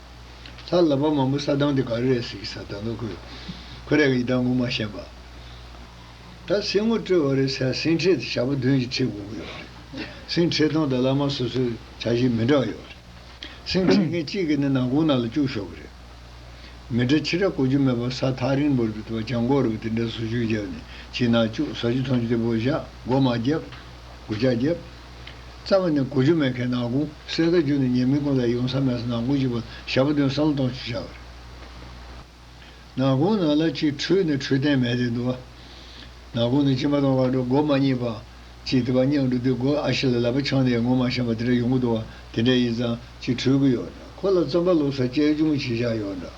ལྷ་བསླབ་པ་མང་པོ་ས་བདང་དེ་ག་རེ་རེད་ཟེར་གི་ས་དང་ནོ་ཁོས་ཁོ་རེ་ག་ཡི་དྭགས་ངོ་མ་ཤེས་པ། ད་སེམས་ངོ་སྤྲོད་བ་རེད་ཟེར་སེམས་ཁྲེལ་དེ་བྱ་བ་དོན་གྱི་ཁྲེལ་དགོས་ཀྱི་ཡོད་རེད། སེམས་ཁྲེལ་སྟངས་དང་བླ་མ་སོ་སོའི་བྱ་བཞིན་མི་འདྲ་བ་ཡོད་རེད། སེམས་ཁྲེལ་མཁན་གཅིག་གིས་ནི་ནང་ཁུང་ནང་ལ་བཅུག་ཤོག་གི་རེད། མི་དྲ་ཕྱི་དྲ་གོ་རྒྱུ་མེད་པར་ས་ཐག་རིང་པོར་བུད་པ་ལྗང་གོག་རེད་པ་དེ་འདྲ་བཟོ་བཅུག་བརྒྱབ་ནས་ཕྱི་ནང་བཅུག་ཟ་རྒྱུ་འཐུང་རྒྱུ་དེ་བོ་བཞག་སྒོ་མ་བརྒྱབ། སྒོ་ལྕགས་བརྒྱབ། རྩ་བ་ནས་གོ་རྒྱུ་མེད་མཁན་ནང་ཁུངས་གསལ་ཁ་རྒྱུ་ནས་ཉེས་མིང་ཀུན་ལ་ཡོང་ས་མེད་ས་ནང་ཁུངས་གཅིག་པ་ཞག་པ་དོན་སང་གཏོང་བྱེད་བྱ་བ་རེད། ནང་ཁུངས་ནང་ལ་ཅིག་འཁྲུལ་ནས་འཁྲུལ་བསྟན་མེད་དེ་འདུག་བ། ནང་ཁུངས་ནི་སྤྱི་མ་དང་བ་འགྲོ་སྒོ་མ་གཉིས་པ། ཅིག་དེ་བ་སྙང་འགྲོ་དེ་སྒོ་ཨ་ཤི་ལ་ལ་བ་ཆང་ནས་ཡར་ངོ་མ་ཤམ་པ་དེ་འདྲ་ཡོང་གི་འདུག་བ་དེ་འདྲ་ཡིན་ཙང་ཅིག་འཁྲུལ་གི་ཡོད་འདྲ། ཁོ་ལ་རྩོམ་པ་ལོབས་ས་དཔྱད་སྦྱོང་བྱེད་བཞག་ཡོད་འདྲ།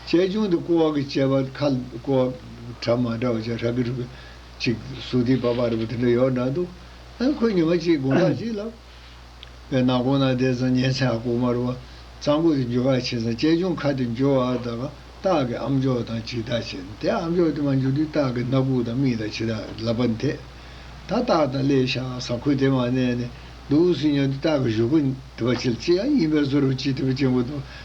དཔྱད་སྦྱོང་དེ་ཀོ་བ་གི་དཔྱད་པ་ཁ་ཀོ་བ་གྲ་མ་འདྲ་བ་ཅག་ཧྲ་གི་ཧྲུ་གི། ཅིག་གཟུགས་ཐིག་པ་པ་རེད་པ་དེ་འདྲ་ཡོད་འདྲ་འདུག་ཁོས་ཉི་མ་གཅིག་དགུང་ལག་གཅིག་ལ། བའི་ནང་གོང་ན་བསྡད་ཙང་ཉལ་ཆ་ལྐུགས་མར་བ། གཙང་པོ་དེ་འཇུ་ག་བྱེད་ཙང་ལྕེ་ཅུང་ཁ་དེ་འཇུ་བར་དགའ། སྟག་གི་ཨམ་ཅོག་དང་ཇི་ལྟར་བྱེད་དེ་ཨམ་ཅོག་དེ་མ་འཇུ་དུས་སྟག་གི་སྣ་ཁུག་དང་མིག་དང་ཇི་ལྟར་ལབ་པ་འཐད། ད་སྟག་དང་ལས་ཤ་ཟ་ཁུ་དེ་མ་གནས་ནས་འདུག་ཟིན་ཡོང་དུས་སྟག་གི་གཞུ་ཁུ་དེ་བ་ཆེ་ལ་ལྕི་ཡང་ཡིན་པས་གཟུར་བ་ཅི་ཐུབ་ཅིང་བུ་དང།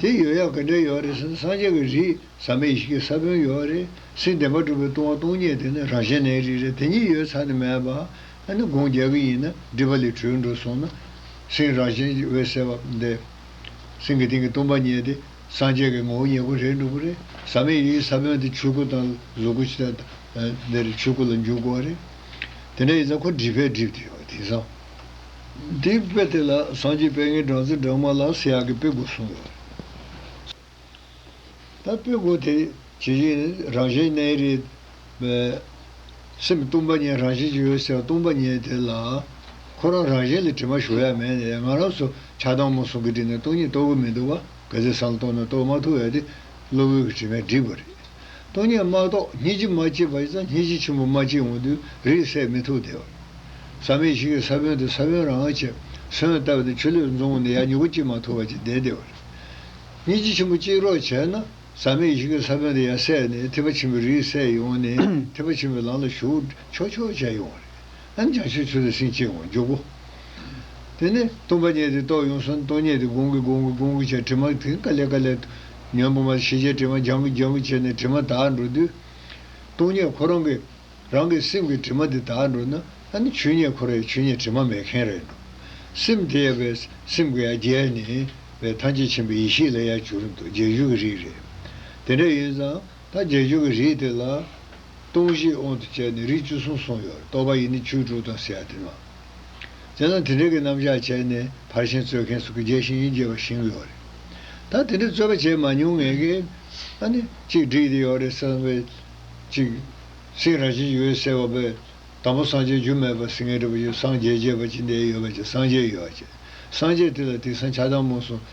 དེ་ཡོད་ཡག་ག་འདྲ་ཡོད་རེད་སེམས་སངས་རྒྱས་ཀྱི་རིགས་ཟ་མའི་ཡི་གེ་ས་བོན་ཡོད་རེད་སེམས་བདེན་པ་སྒྲུབ་པའི་ལྟུང་བ་སྟོང་ཉིད་དེ་ནི་རང་གཞན་ནའི་རིགས་རེད་དེ་ཉིད་ཡོད་ཚར་ནི་མེད་པ་ཨ་ནི་དགོངས་རྒྱལ་གྱི་ཡིན་ན་སྒྲིབ་པ་ལས་གྲོལ་འགྲོ་སོང་ན། སེམས་རང་གཞན་འོད་གསལ་བ་འདི། སེམས་ཀྱི་སྟེང་གི་སྟོང་པ་ཉིད་དེ་སངས་རྒྱས་ཀྱི་ངོ་བོ་ཉེ་པོ་རེད་འགྲོ་གི་རེད་ཟ་མའི་ཡི་གེ་ས་བོན་དེ་ཆོས་སྐུ་དང་གཟུགས་སྐུ་ཕྱི་དང་འདིར་ཆོས་སྐུ་ལ་འཇུག་དགོས་རེད་དེ་འདྲ་ཡིན་ཙང་ཁོ་སྒྲིབ་པས་སྒྲིབ་དེ་ཡོད་དེང་སང། དེའི་དཔེ་དེ་ལ་སངས་རྒྱས་དཔལ་ངན་སྦྲང་རྩི་སྦྲང་མ་ལ་སེ་ཡག་གི་དཔེ་དགོས་གསུངས་ཡོད། ད་དཔེ་དགོས་དེ་ཇི་བཞིན་ནི་རང་བཞིན་གནས་རེད། སེམས་སྟོང་པ་ཉིད་རང་བཞིན་གྱི་ཡོད་ཟེར་བ་སྟོང་པ་ཉིད་དེ་ལ། ཁོ་རང་རང་བཞིན་ལ་དྲི་མ་ཞུ་ཡ་མེད་ནས་ང་རང་ཚོ་ཆགས་སྡང་མོ་ཟུང་གིས་བྲིས་ནས་སྟོང་ཉིད་རྟོགས་གི་མི་འདུག་བ་ག་ཚད་བསམ་བློ་གཏོང་ནས་རྟོགས་མ་ཐུབ་ཡ་དེ་གློ་བུར་གྱི་དྲི་མས་བསྒྲིབས་པ་རེད། སྟོང་ཉིད་མ་གཏོགས་སྙིང་རྗེ་མ་སྐྱེས་པ་ཙམ་སྙིང་རྗེ་ཆེན་པོ་མ་སྐྱེས་འོང་དུས་རིས་གསལ་མི་ཐུབ་བདེ་བ་ཟག་མེད་ཞིག་གིས་ས་བོན་དུ་ས་བོན་རང་བྱས་སོན་ལྟ་བུ་དེ་ཆུ་ལུད་རྫོང་བོ་ནས་ཡར་མྱུ་གུ་སྐྱེས་མ་ཐུབ་བར་གྱི་བདེ་བདེ་བ་རེད། སྙིང་རྗེ་ཆེན་པོ་སྐྱེས་རོགས་བྱས་ན་ཟག་མེད་ཞིག་གིས་ས་བོན་དུ་ཡར་སད་ནས་ཐེག་པ་ཆེན་པོའི་རིས་གསལ་ཡོང་ནས་ཐེག་པ་ཆེན་པོའི་ལམ་ལ་ཞུགས་ཆོག་ཆོག་བྱས་ཡོང་བ་རེད། ཨན་ཅང་ཤེས་ཆུ་ལ་སྲིན་བཅས་འོང་འཇུག་གོ། དེ་ནས་སྟོང་པ་རྙེད་དེ་རྟོགས་ཡོང་སོན་སྟོང་རྙེད་དེ་དགོངས་ཀི་དགོངས་ཀི་དགོངས་ཀི་བྱས་དྲི་མར་དིང་ཀ་ལས་ཀ་ལས། ཉོན་པོ་མར་ཤེས་བྱའི་དྲི་མ་སྦྱང་གི་སྦྱང་གི་བྱས་ནས་དྲི་མ་དག་འགྲོ་དུས། སྟོང་རྙེད་ཁོ་རང་གི། རང་གི་སེམས་ཀྱི་དྲི་མ་དེ་དག་འགྲོ་ན་ཨ་ནི་ཆུ་རྙེད་ཁོ་ར་ཡི་ཆུ་རྙེད་དྲི་མ་མེད་མཁན་ར་ཡི་འགྲོ། སེམས་དེ་ཡ་བས་སེམས་ཀྱི་ཡ་རྒྱལ་ནི་བས་ཐམས་ཅད་མཁྱེན་པའི་ཡེ་ཤེས་ལ་ཡ་བྱུར་འདུག་རྗེས་འཇུག་གི་རིགས་རེད། དེ་འདྲ་ཡིན་ཙང་ད་རྗེས་འཇུག་གི་རིགས་དེ་ལ། སྟོང་བཞི་དབང་དུ་བྱས་ནས་རིགས་བཅུ་གསུམ་གསུངས་ཡོད་རྟོགས་པ་ཡི་ནི་ཆོས་དྲུག་དང་ཟེར་ཡ་དེ་མ་རྩེ་ན་དེ་འདྲའི་གི་རྣམ་གཞག་བྱས་ནས་ཕར་ཞེན་རྩོད་མཁན་སུ་གི་རྒྱལ་ཞིང་ཡིན་རྒྱལ་བ་བཞིན་ཡོད་རེད་ད་དེ་འདྲའི་རྩོད་པ་བྱས་མ་མྱོང་ངས་གི་ཨ་ནི་གཅིག་བསྒྲིགས་དེ་ཡོད་རེད་བསམ་པས་གཅིག་སེང་ར་ཅན་ཡོད་ཟེར་བ་པས་དང་པོ་སངས་རྒྱས་རྒྱུ་མེད་པ་སེང་ངེ་འདྲ་པོ་ཡོད་སངས་རྒྱས་རྒྱས་པ་ཅི་འདའི་ཡོད་པ་ཅི་སངས་རྒྱས་ཡོད་བ་ཅི་སངས་རྒྱས་དེ་ལ་དེང་སང་ཆགས་སྡང་མུན་སོང།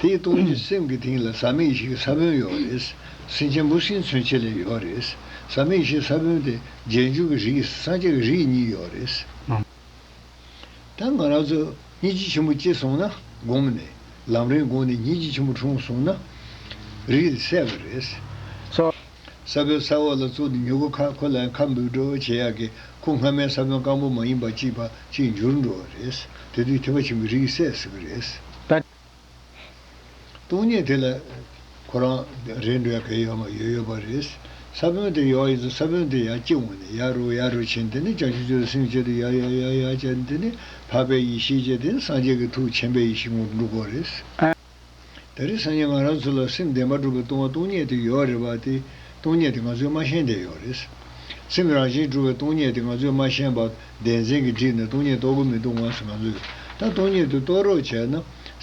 དེའི་སྟོང་ཉིད་སེམས་ཀྱི་སྟེང་ལ་ས་མིག་ཞིག་ས་བོན་ཡོད་རེད། སེམས་ཆེན་པོ་སྲིད་མཚོན་ཆེ་ལས་ཡོད་རེད། ས་མིག་ཞིག་ས་བོན་དེ་རྗེས་འཇུག་གི་རིགས་སངས་རྒྱས་ཀྱི་རིགས་གཉིས་ཡོད་རེད། ད་ང་རང་ཚོས་སྙིང་རྗེ་ཆེན་པོ་སྐྱེས་སོང་ན་སྒོམ་ནས་ལམ་རིང་དགོངས་ནས་སྙིང་རྗེ་ཆེན་པོ་འཁྲུངས་སོང་ན། རིགས་དེ་སད་པ་རེད། ས་བོན་ས་འོག་ལ་བཙུགས་ནས་མྱུ་གུ་ཁ་ཁོ་ལའང་ཁ་འབུས་འགྲོ་བྱེད་ཡག་གི་ཁུ་སྔ་མའི་ས་བོན་སྐམ་པོ་མ་ཡིན་པ་གཅིག་པ་གཅིག་འགྱུར་འགྲོ་བ་རེད། དེ་དུས་ཐེ་བ་ཆེན་པོའི་རིགས་སད་ཟེར་གི་རེད། ད། སྟོང་ཉིད་དེ་ལ། ཁོ་རང། རེད་འགྲོ་ཡ་གི་ཡོད་མ་ཡོད་ཡོད་པ་རེད། ས་བོན་དེ་ཡོག་ཡིན་ཚོ་ས་བོན་དེ་ཡག་གཅིག་འོང་ནས་ཡ་རུ་ཡ་རུ་ཕྱིན་དེ་ནི་བྱང་ཆུབ་ཆོས་ལ་སེམས་བསྐྱེད་དུ་ཡ་ཡ་ཡ་ཡ་བྱས་ནས་དེ་ནི་འཕགས་པའི་ཡེ་ཤེས་བསྐྱེད་དེ་ནི་སངས་རྒྱས་ཀྱི་ཐུགས་ཆེན་པའི་ཡེ་ཤེས་ངོར་འགྲུབ་དགོས་རེད། ད་རེས་སང་ཉིན་ང་རང་ཚོ་ལ་སེམས་བདེ་མ་གྲུབ་པའི་ལྟུང་བ་སྟོང་ཉིད་དེ་ཡོད་རེད་པ་དེ་སྟོང་ཉིད་དེ་ང་ཚོས་མ་ཤེས་འདས་ཡོད་རེད། སེམས་རང་བཞིན་གྲུབ་པའི་སྟོང་ཉིད་དེ་ང་ཚོས་མ་ཤེས་པ་བདེན་འཛིན་གྱིས་བསྒྲིབས་ནས་སྟོང་ཉིད་རྟོགས་གི་མི་འདུག་འོངས་སུ་ང་ཚོས་ད་སྟོང་ཉིད་དུ་རྟོགས་རོགས་བྱས་ན།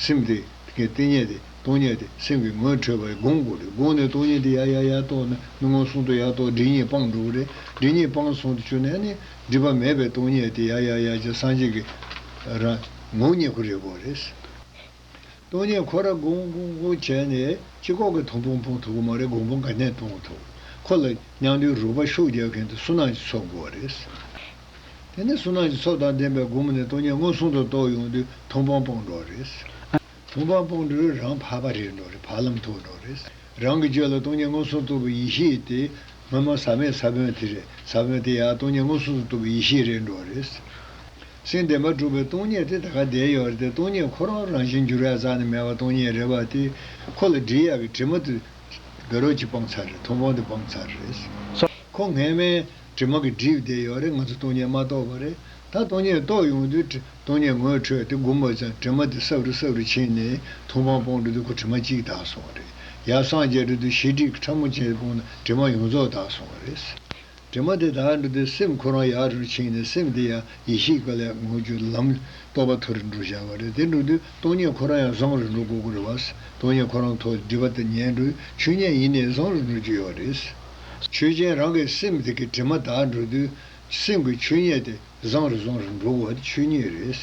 སེམས་དེ་གི་སྟེང་ཉིད་དེ་སྟོང་ཉིད་དེ་སེམས་ཀྱི་ངོས་འཕྲོད་པ་རེད་དགོངས་དགོས་རེད་དགོངས་ནས་སྟོང་ཉིད་དེ་ཡ་ཡ་ཡ་རྟོགས་ནས་མི་མངོན་སུམ་དུ་ཡ་རྟོགས་སྒྲིབ་གཉིས་སྤངས་འགྲོ་གི་རེད་སྒྲིབ་གཉིས་སྤངས་སོང་དུ་ཆུད་ནས་ནི་སྒྲིབ་པ་མེད་པའི་སྟོང་ཉིད་དེ་ཡ་ཡ་ཡ་ཅེས་སངས་རྒྱས་ཀྱི་རང་ངོ་རྙེད་ཁོ་རེད་དགོས་རེད། སྟོང་ཉིད་ཁོ་ར་གུང་གུང་གུང་བྱས་ནས་སྤྱི་ཁོག་གི་ཐོང་ཕུང་ཕུང་ཐུག་གི་མ་རེད་དགོང་པོ་འགའ་གནས་སྟོང་གི་ཐོག་ཁོ་ལ་མྱང་འདུའི་རུ་པ་ཤུགས་རྒྱག་མཁན་དུ་སུན་སྣང་གྱི་ཚོགས་བསྐོ་བ་རེད་བསམ་གི་རེད། དེ་ནས་སུན་སྣང་གྱི་ཚོགས་དང་ལྡན་པའི་སྒོ་མོ་ནས་སྟོང་ཉིད་མངོན་སུམ་དུ་རྟོགས་ཡོང་དུས་ཐོང་ཕང་སྤོང་འགྲོ་བ་རེད་བསམ་གི་རེད། ཐོང་ཕང་སྤོང་དུས་རང་བག་པ་རེད་འགྲོ་རེད་བག་ལམ་ཐུག་འགྲོ་རེད་བསམ་གི་རེད། རང་གི་སྤྱོད་ལ་སྟོང་ཉིད་མངོན་སུམ་གཏུབ་པའི་ཡེ་ཤེས་དེ་སྔོན་མ་ཟ་མའི་ས་བོན་དེ་རེད་ཟ་བོན་དེ་ཡང་སྟོང་ཉིད་མངོན་སུམ་དུ་གཏུབ་པའི་ཡེ་ཤེས་རེད་འགྲོ་རེད་བསམ་གི་རེད། སེམས་བདེ་བར་སྒྲུབ་པའི་སྟོང་ཉིད་དེ་ད་ག་བསྡད་ཡོད་རེད་དེ་སྟོང་ཉིད་ཁོ་རང་རང་བཞིན་འགྱུར་ཡག་ཙག་ནས་མེད་པ་སྟོང་ཉིད་རེད་བ་དེ། ཁོ་ལ་འདྲིས་ཡག་གི་དྲི་མ་དེ། དགའ་རོགས་ཀྱིས་སྤང་ཚར་རེད་མཐོང་སྤང་དེ་སྤང་ཚར་རེད། ཁོ་ངན་སྨྲས། དྲི་མ་གི་བསྒྲིབས་བསྡད་ཡོད་རེད་ང་ཚོ་སྟོང་ཉིད་མ་རྟོགས་པ་རེད། ད་སྟོང་ཉིད་རྟོགས་ཡོང་དུས་དྲི་སྟོང་ཉིད་ངོས་འཕྲོད་དེ་སྒུམ་པ་ཙང་དྲི་མ་དེ་སྲབ་རུ་སྲབ་རུ་ཕྱིན་ནས་མཐོང་སྤང་སྤོང་འགྲོ་དུས་ཁོ་དྲི་མ་གཅིག་དག་སོང་རེད། ཡབ་སངས་རྒྱས་འགྲོ་དུས་ཞི་འགྲིག་གི་ཁྲ་མོ་ཅན་དེ་སྤོང་ན་དྲི་མ་ཡོངས་རྫོགས་དག་སོང་རེད། དྲི་མ་དེ་དག་འདི་དུས་སེམས་ཁོ་རང་ཡར་རུ་ཕྱིན་ནས་སེམས་དེ་ཡང་ཡེ་ཤེས་ཀྱི་ལས་ངོ་བརྒྱུད་ལམ་རྟོགས་པ་ཐོ་རུ་འགྲོ་བཞག་པ་རེད་དེ་འགྲོ་དུས་སྟོང་ཉིད་ཁོ་རང་ཡང་བཟང་རུ་འགྲོ་དགོས་དགོས་རེད་བ། སྟོང་ཉིད་ཁོ་རང་ཐོག་སྒྲིབ་པ་དེ་ཉལ་འགྲོའི་ཆོས་ཉིད་ཡིན་ནས་བཟང་རུ་འགྲོ་རྒྱུ་ཡོད་རེད། ཆོས་ཅན་རང་གི་སེམས་དེ་གི་དྲི་མ་དག་འགྲོ་དུས་སེམས་ཀྱི་ཆོས་ཉིད་དེ་བཟང་རུ་བཟང་རུ་འགྲོ་དགོས་བ་དེ་ཆོས་ཉིད་རེད།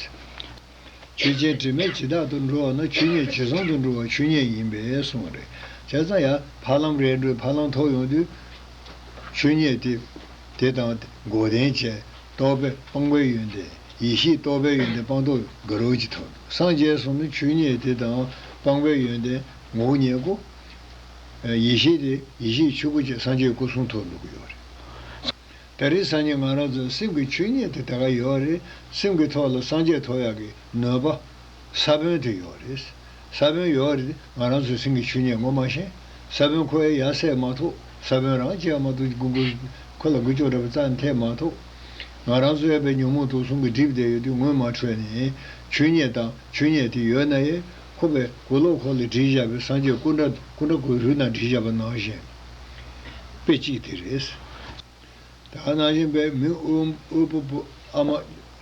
ཇི་བྱས་དྲི་མེད་ཇི་བདག་ཏུ་འགྲོ་བ་ན་ཆོས་ཉིད་ཇི་བཟང་དུ་འགྲོ་བ་ཆོས་ཉིད་ཡིན་པས་གསུངས་པ་རེད། བྱས་ཙང་ཡང་ཕ་ལམ་རེད་འགྲོའི་ཕ་ལམ་ཐོབ་ཡོང་དུས། ཆོས་ཉིད་དེ། དེ་དང་དགོས་ལྡན་བཅས་རྟོགས་པས་སྤངས་པའི་ཡོན་ཏན། ཡེ་ཤེས་རྟོགས་པའི་ཡོན་ཏན་སྤངས་རྟོགས་དགའ་རོགས་ཀྱི་ཐོབ། སངས་རྒྱས་སོགས་ནི་ཆོས་ཉིད་དེ་དང་སྤངས་པའི་ཡོན་ཏན་ངོ་བོ་ཉིད་སྐུ། ཡེ་ཤེས་དེ་ཡེ་ཤེས་ཆོས་སྐུ་བཅས་སངས་རྒྱས་སྐུ་གསུང་ཐོབ་ལུགས་ཡོད་རེད། ད་རེས་སང་ཉིན་ང་རང་ཚོའི་སེམས་ཀྱི་ཆོས་ཉིད་དེ་དེ་ག་ཡོད་རེད། སེམས་ཀྱི་ཐོག་ལ་སངས་རྒྱས་ཐོག་ཡག་གི་ནོས་པ། ས་བོན་དེ་ཡོད་རེད། ས་བོན་ཡོད་རེད་ང་རང་ཚོའི་སེམས་ཀྱི་ཆོས་ཉིད་ངོ་མ་ཤེས། ས་བོན་ཁོ་ཡ་ཡ་བསད་མ་ཐུབ་ས་བོན་རང་བཅད་མ་ཐུབ་ཀྱི་འགུལ། ཁོ་ལ་འགུལ་ལྕོག་འདྲ་པོ་རྩ་ནས་ཐེབས་མ་ཐུབ། ང་རང་ཚོའི་ཡས་པའི་ཉོན་མོངས་དུག་གསུམ་གྱི་གྲིབ་དེ་ཡོད་དུས་ངོས་མ་འཕྲོད་ནས། ཆོས་ཉིད་དང་ཆོས་ཉིད་དེ་ཡོད་ན་ཡས་ཁོ་པའི་གུ་ལོག་ཁོག་ལ་བྲིས་བཞག་པའི་སངས་རྒྱས་སྐུ་འདྲ་སྐུ་འདྲ་གོས་རུལ་ནང་བྲིས་བཞག་པ་ནང་བཞིན། དཔེ་གཅིག་དེ་རེད། ད་ནང་བཞིན་པའི་མི་དབུལ་པོ་བུ་ཨ་མ་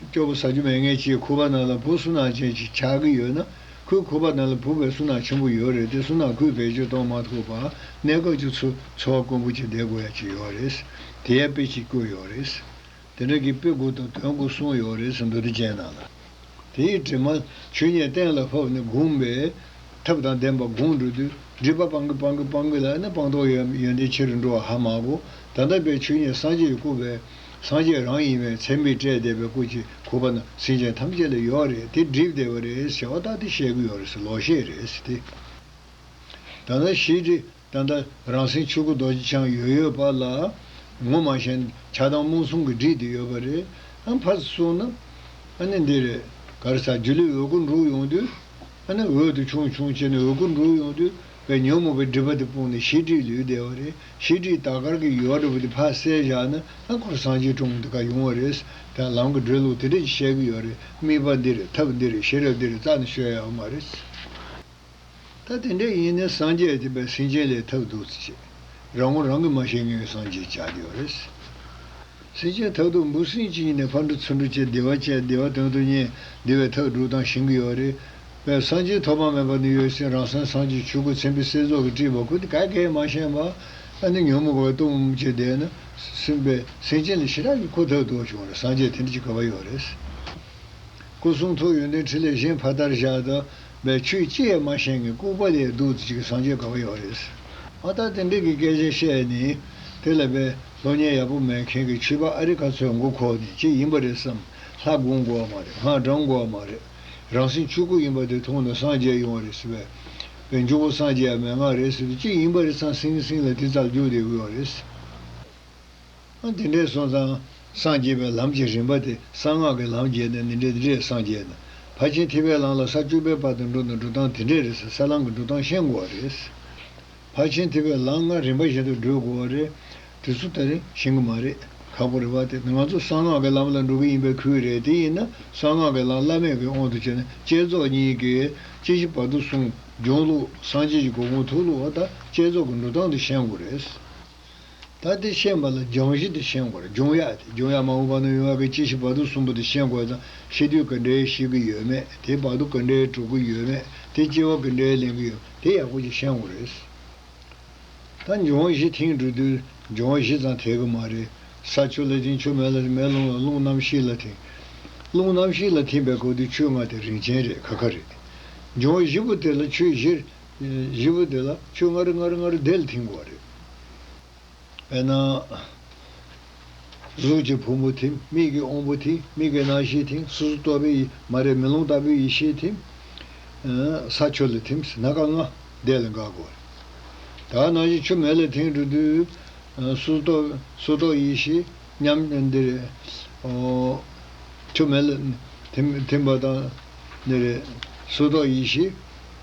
སྐྱོ་པོ་ཟ་རྒྱུ་མེད་མཁན་གྱིས་ཁུ་བ་ནང་ལ་བུ་སུན་སྣང་ཅན་ཞིག་ཆགས་ཀྱི་ཡོད་ན་ཁོས་ཁུ་བ་ནང་ལ་བུ་བས་སུན་སྣང་ཆེན་པོ་ཡོད་རེད་དེ་སུན་སྣང་ཁུལ་བེད་སྤྱོད་གཏོང་མ་ཐུབ་པར་གནས་སྐབས་ཀྱི་འཚོ་བ་དཀོན་པོ་ཅིག་བསྡད་དགོས་ཡ་གྱི་ཡོད་རེད། དེ་ཡའི་དཔེ་གཅིག་བཀོད་ཡོད་རེད། དེ་རིང་གི་དཔེ་དགུ་དང་དོན་དགུ་གསུངས་ཡོད་རེད་ཟེར་འདུག་དེ་མཇལ་ན་ལ། དེའི་དྲི་མ། ཇུས་ཉེས་གཏན་ལ་ཕབ་ནས་སྒུག་པས། ཐབས་དང་ལྡན་པ་སྒུག་འགྲོ་དུས་སྒྲིབ་པ་སྤང་གི་སྤང་གི་སྤང་གི་ལ་ཨེ་ན་སྤང་རྟོགས་ཡོད་ཡོན་ཏན་ཆེ་རུ་འགྲོ་བ་ཧ་མ་གོ། ད་ལྟ་བའི་ཇུས་ཉེས་སངས་རྒྱས་ཀྱི་སྐུ་བས། སངས་རྒྱས་རང་ཡིན་བས་མཚན་མི་སྤྲད་བདེ་བའི་སྐུ་གཅིག་གུ་བ་ན་སེམས་ཅན་ཐམས་ཅད་ལ་ཡོད་རེད་དེ་སྒྲིབ་བདེ་བ་རེད་ཟེར་བ་ལྟ་དེ་བཤད་གི་ཡོད་རེད་ལོག་བཤད་རེད། ད་ནང་བཞི། ད་ལྟ་རང་སེམས་ཆོས་སྐུ་རྡོ་རྗེ་འཆང་ཡོད་ཡོད་དཔག་ལ། ངོ་མ་ཞན་ཆགས་དང་རྨོངས་གསུམ་གྱི་སྒྲིག་འདི་ཡོད་པ་རེད། ཨ་ཕ་གསུངས་ན། ཨ་ནི་འདི་རེད། གར་སར་རྒྱུ་ལས་འོད་སྐུ་འབྲུག་ཡོང་དུས། ཨ་ནི་འོད་དུ་ཆུང་ཆུང་བྱས་ནས་འོད་སྐུ་འབྲུག་ཡོང་དུས། པའི་ཉོན་མོངས་པའི་སྒྲིབ་པ་དེ་སྤོང་ནས་ཤེས་སྒྲིབ་ལུས་བདེ་བ་རེད། ཤེས་སྒྲིབ་དག་དཀར་གྱི་ཡུ་བ་འདྲ་བོ་དེ་ཕར་བསལ་བཞག་ན་ཨ་འཁོར་སངས་རྒྱས་དྲུང་འདི་ག་ཡོང་བ་རེད། ད་ལམ་གྱི་འགྲོས་ལུགས་དེ་འདྲས་ཀྱིས་བཤད་ཀྱི་ཡོད་རེད་དམིགས་པ་འདི་རེད་ཐབས་འདི་རེད་ཤེས་རབ་འདི་རེད་རྩ་ནས་ཤོད་ཡག་མ་རེད། ད་དེ་འདྲ་ཡིན་ནས་སངས་རྒྱས་བྱེད་པའི་སེམས་ཅན་ལས་ཐབས་རྡུགས་ཚུལ་བྱེད། རང་ངོ་རང་གིས་མ་ཤེས་ངན་སངས་རྒྱས་བྱ་རྒྱུ་རེད། སེམས་ཅན་ཐབས་རྡུགས་འབུ་སྲིན་གྱིས་ཉིད་ནས་ཕར་འགྲོ་ཚུར་འགྲོ་བྱེད་བདེ་བ་བྱས་བདེ་བ་དོན་དུ་གཉེར་བདེ་བའི་ཐབས་སྒྲུག་སྟངས་ཤེས་ཀྱི་ཡོད་རེད། བས་སངས་རྒྱས་ཐོབ་པ་མེད་པ་ནི་ཡོད་སྲིད་རང་སེམས་སངས་རྒྱས་ཆོས་སྐུ་མཚན་དཔེ་སེལ་རྫོགས་ཀྱི་དཀྲིས་པ་ཁུ་དེ་གས་གས་མ་ཤེས་པ་ཨ་ནི་ཉོན་མོངས་པའི་གཏུམ་མོ་བྱེད་བསྡད་ན་སྲིད། བས་སེམས་ཅན་ལ་ཞི་དྲག་གིས་ཁོ་ཐབས་རྡུགས་བྱུང་རེད་སངས་རྒྱས་དེ་འདྲ་བྱེད་དགོས་པ་ཡོད་རེད། སྐུ་གསུང་ཐུགས་ཡོན་ཏན་ཁྲི་ལས་གཞན་ཕ་ལྟར་བཞག་ད་པའི་ཆོས་ཅི་ཡང་མ་ཤེས་ངེས་ལྐུགས་པ་ལས་སྡུག་ཅིག་གི་སངས་རྒྱས་དགའ་བ་ཡོད་རེད། ཨ་ད་དེ་འདྲས་ཀྱི་སྐད་ཆ་བཤད་ནི། དེ་ལ་བས་ལྷོ་ཉལ་ཡག་པོ་མེད་མཁན་གྱི་ཆོས་པ་ཨ་རི་ཁ་ཚོས་མགོ་ཁོག་ནས་ཅིག་ཡིན་པ་རེད་བསམ། ལྷ་སྒོམ་དགོས་བ་མ་རེད་སྔགས་འགྲམ་དགོས་བ་མ་རེད། རང་སེམས་ཆོས་སྐུ་ཡིན་པ་དེ་མཐོང་ནས་སངས་རྒྱས་ཡོང་བ་རེད་ཟེར་བས། བས་མཇུག་བོ་སངས་རྒྱས་ཡ་མེད་ངག་རེད་ཟེར་དུས་ཅིག་ཡིན་པ་རེད་བསམ་སིང་སིང་ལ་དེ་ཙག་རྒྱུགས་དེ་འུར་བ་རེད། འདི་འདྲའི་སོང་ཙང། སངས་རྒྱས་པའི་ལམ་གྱི་རིམ་པ་དེ་གསང་སྔགས་ཀྱི་ལམ་བརྒྱད་ནས་ནི་འདི་འདྲའི་སངས་རྒྱས་ན། ཕར་ཕྱིན་ཐིག་པའི་ལམ་ལ་ས་བཅུ་པའི་བར་དུ་འགྲོ་ན་འགྲོ་སྟངས་དེ་འདྲས་རེད་ཟེར་ས་ལམ་གྱི་འགྲོ་སྟངས་ཤེས་དགོ་བ་རེད། ཕར་ཕྱིན་ཐིག་པའི་ལམ་ལྔ་རིམ་པ་བཞིན་དུ་བགྲོད་དགོ་བ་རེད། དེ་ཚོ་ད་རིང་ཤེས་གི་མ་རེད། ཁག་པོ་རེད་བ་དེ་ང་ཚོ་གསང་སྔགས་ཀྱི་ལམ་ལ་འགྲོ་གི་ཡིན་པའི་ཁུལ་རེད་དེ་ཡིན་ན་གསང་སྔགས་ཀྱི་ལམ་བླ་མེད་ཀྱི་དབང་དུ་བྱས་ན་བསྐྱེད་རྫོགས་གཉིས་ཀས་ཅི་བྱེད་བར་དུ་སྲུང་སྐྱོང་ལུགས་སངས་རྒྱས་ཀྱི་གོ་གོང་ཐུགས་ལུགས་བ་ད་བསྐྱེད་རྫོགས་ཀྱི་འགྲོ་སྟངས་དེ་ཤེས་དགོ་རེད། ད་དེ་ཤེས་པ་ལ་སྦྱང་གཞི་དེ་ཤེས་དགོས་རེད་འབྱུང་ཡག་དེ་འབྱུང་ཡག་མང་བོ་བར་ན་ཡོང་ཡག་གི་སྐྱེ་ཤི་བར་དོ་གསུམ་པོ་དེ་ཤེས་དགོས་ད་ཤེས་དུས་ག་འདྲའི་ཤེས་ཀི་ཡོད་མེད་དེ་བར་དོ་ག་འདྲའི་གྲུབ་ཀི་ཡོད་མེད་དེ་སྐྱེ་བ་གི་འདྲའི་ལེན་གི་ཡོད་མེད་དེ་ཡག་པོ་ཅིག་ཤེས་དགོས་རེད། ད་འབྱུང་གཞི་ཐེངས་དྲུག་དུས་འབྱུང་གཞི་ཙང་ཐེག་གི་མ་རེད། ས་ཆུ་ལ་ཐིང་ཆུ་མེ་ལ་ཐིང་མེ་རླུང་ལ་རླུང་རྣམ་ཤེས་ལ་ཐིང་རླུང་རྣམ་ཤེས་ལ་ཐིང་པའི་སྐབས་དུས་ཆུ་ལྔ་དེ་རིན་ཆེན་རེད་ཁ་ཁ་རེད། འབྱུང་གཞི་པོ་དེ་ལ་ཆུ་བཞི་བཞི་པོ་དེ་ལ་ཆུ་ངར་ངར་ངར་བརྡལ་མཐིང་གོ་བ་རེད། དཔེར་ན། གཟུགས་ཀྱི་ཕུང་པོ་མཐིང་མིག་གི་དབང་པོ་མཐིང་མིག་གི་རྣམ་ཤེས་མཐིང་སོ་སོ་རྟོག་པའི་ཡིད་མ་རེག་མེ་ལོང་ལྟ་བུའི་ཡེ་ཤེས་མཐིང། ས་ཆུ་ལ་མཐིང་སྣ་ཁ་ལྔ་བརྡལ་ལ་འགག་གོ་བ་རེད། དག་སྣང་གཞི་ཆུ་མེ་ལ་མཐིང་འགྲོ་དུས། སོ་སོ་རྟོག་ཡེ་ཤེས་མཉམ་འདི་རེད། ཆུ་མེ་ལ་མཐིང་པ་དང་འདི་རེད། སོ་སོ་རྟོག་ཡེ་ཤེས།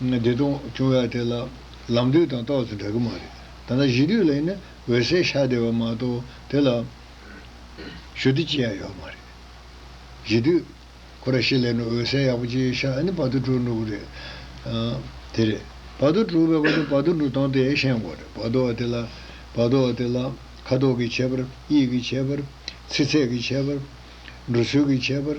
བདེ་སྟོང་བྱུང་བའི་དེ་ལ་ལམ་དུས་དང་རྟོགས་ཚེ་འདྲ་གི་མ་རེད། ད་ནང་གཞི་དུས་ལ་ཡིན་ན་འོད་གསལ་ཤ་བདེ་བ་མ་གཏོགས་དེ་ལ་ཞུ་བདེ་ཅི་ཡང་ཡོད་མ་རེད། གཞི་དུས། ཁོ་ར་ཤི་ལས་ནི་འོད་གསལ་ཡག་པོ་ཅིག་ཤ་ཨ་ནི་བར་དུ་གྲུག་འགྲོ་གི་རེད། དེ་རེད། བར་དུ་གྲུག་བས་པ་ནི་བར་དུ་འགྲོ་སྟངས་དེ་ཤེས་དགོས་རེད་བར་དུ་བ་དེ་ལ། བར་དུ་བ་དེ་ལ། ཁ་དོག་གི་ཁྱད་པར། དབྱིབས་ཀྱི་ཁྱད་པར། ཚི་ཚད་ཀྱི་ཁྱད་པར། འགྲོ་ཚུལ་གྱི་ཁྱད་པར།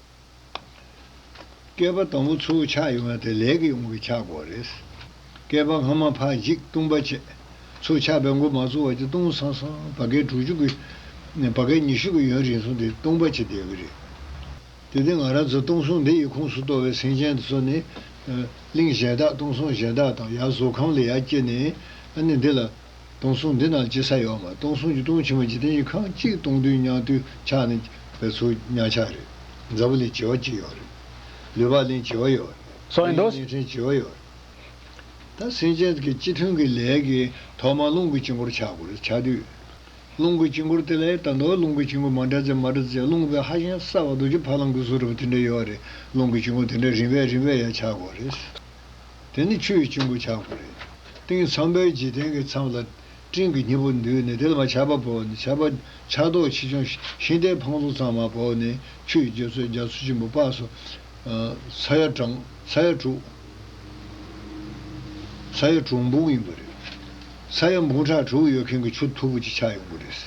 བསྐལ་པ་དང་པོ་མཚོ་བོ་ཆགས་ཡོང་ན་དེ་ལས་ཀྱི་ཡོང་གི་ཆགས་འགོ་རེད། བསྐལ་པ་སྔ་མ་ཕག་འཇིག་ལྟུང་བ་བྱས། མཚོ་ཆགས་པའི་མགོ་མ་གཙོ་བ་གྱི་ལྟུང་སང་སང་བ་བསྐལ་དྲུག་ཅུ་གི། བ་བསྐལ་ཉི་ཤུ་གི་ཡུན་རིང་སོང་དེ་ལྟུང་བ་བྱེད་བསྡད་གི་རེད། དེ་དེ་ང་རང་ཚོ་ལྟུང་སོང་འདི་ཡི་ཁུངས་སུ་གཏོགས་བའི་སེང་ཆེན་དེ་ཚོ་ནི། གླིང་གཞན་དག་ལྟུང་སོང་གཞན་དག་དང་ཡར་བཟོ་ཁང་ལས་ཡར་སྐྱེས་ནས་ཨ་ནི་འདི་ལ། སྟོང་གསུམ་འདི་རྣམས་ཅི་ས་ཡོད་མ་སྟོང་གསུམ་གྱི་སྟོང་ཆེན་མོ་འཇིག་རྟེན་གྱི་ཁམས་གཅིག་སྟོང་དུས་ཉག་དུས་ཆགས་ནས་པའི་ཚུལ་གཉག་ཆགས་རེད། འཛམ་བུ་ལས་བྱེ་བ་གཅིག་ཡོད་རེད། ལུས་པགས་ལེན་བྱེ་བ་ཡོད་རེད། ལུས་ཡོངས་ལེན་ཕྲན་བྱེ་བ་ཡོད་རེད། ད་སེམས་ཅན་གྱི་སྤྱི་མཐུན་གྱི་ལས་ཀྱི་ཐོག་མར་རླུང་གི་དཀྱིལ་འཁོར་ཆགས་དགོས་རེད་ཆགས་དུས། རླུང་གི་དཀྱིལ་འཁོར་དེ་ལས་ད་དུང་རླུང་གི་དཀྱིལ་འཁོར་མ་འདྲ་ཚེ་མ་འདྲ་ཚེ་རླུང་བས་ཧ་ཅང་སྲ་བ་རྡོ་རྗེ་ཕ་ལང་གུ་སོགས་རིང་བ་དེ་འདྲ་ཡོད་རེད་རླུང་གི་དཀྱིལ་འཁོར་དེ་འདྲ་རིང་བས་རིང་བས་ཡང་ཆགས་དགོས་རེད། དེ་ནི་ཆུ་ཡི་སྤྱིན་པོ་ཆགས་པ་རེད། སྟེང་ཚངས་པའི་འཇིག་རྟེན་གྱི་ཚངས་ལ། སྤྲིན་གྱི་སྙིང་པོ་འདུས་ནས་དེ་ལ་མ་ཆགས་པ་བོར་ནས་ཆགས་པ། ཆགས་རྟོག་ཆེ་ཆུང་ཤིང་རྟའི་འཕང་ལོ་ཚང་མ་བོར་ནས་ཆུ་ཡི་འཇོ་ཚོད་རྒྱ་མཚོ་ཆེན་པོ་དཔག་སོ། ས་ཡ་གྲངས། ས་ཡ་དྲུག། ས་ཡ་དྲུག་འབུང་ཡིན་པ་རེད། ས་ཡ་འབུང་ཕྲག་དྲུག་ཡོད་མཁན་གྱི་ཆུ་འཐུག་པོ་ཅིག་ཆགས་ཡོང་གི་རེད།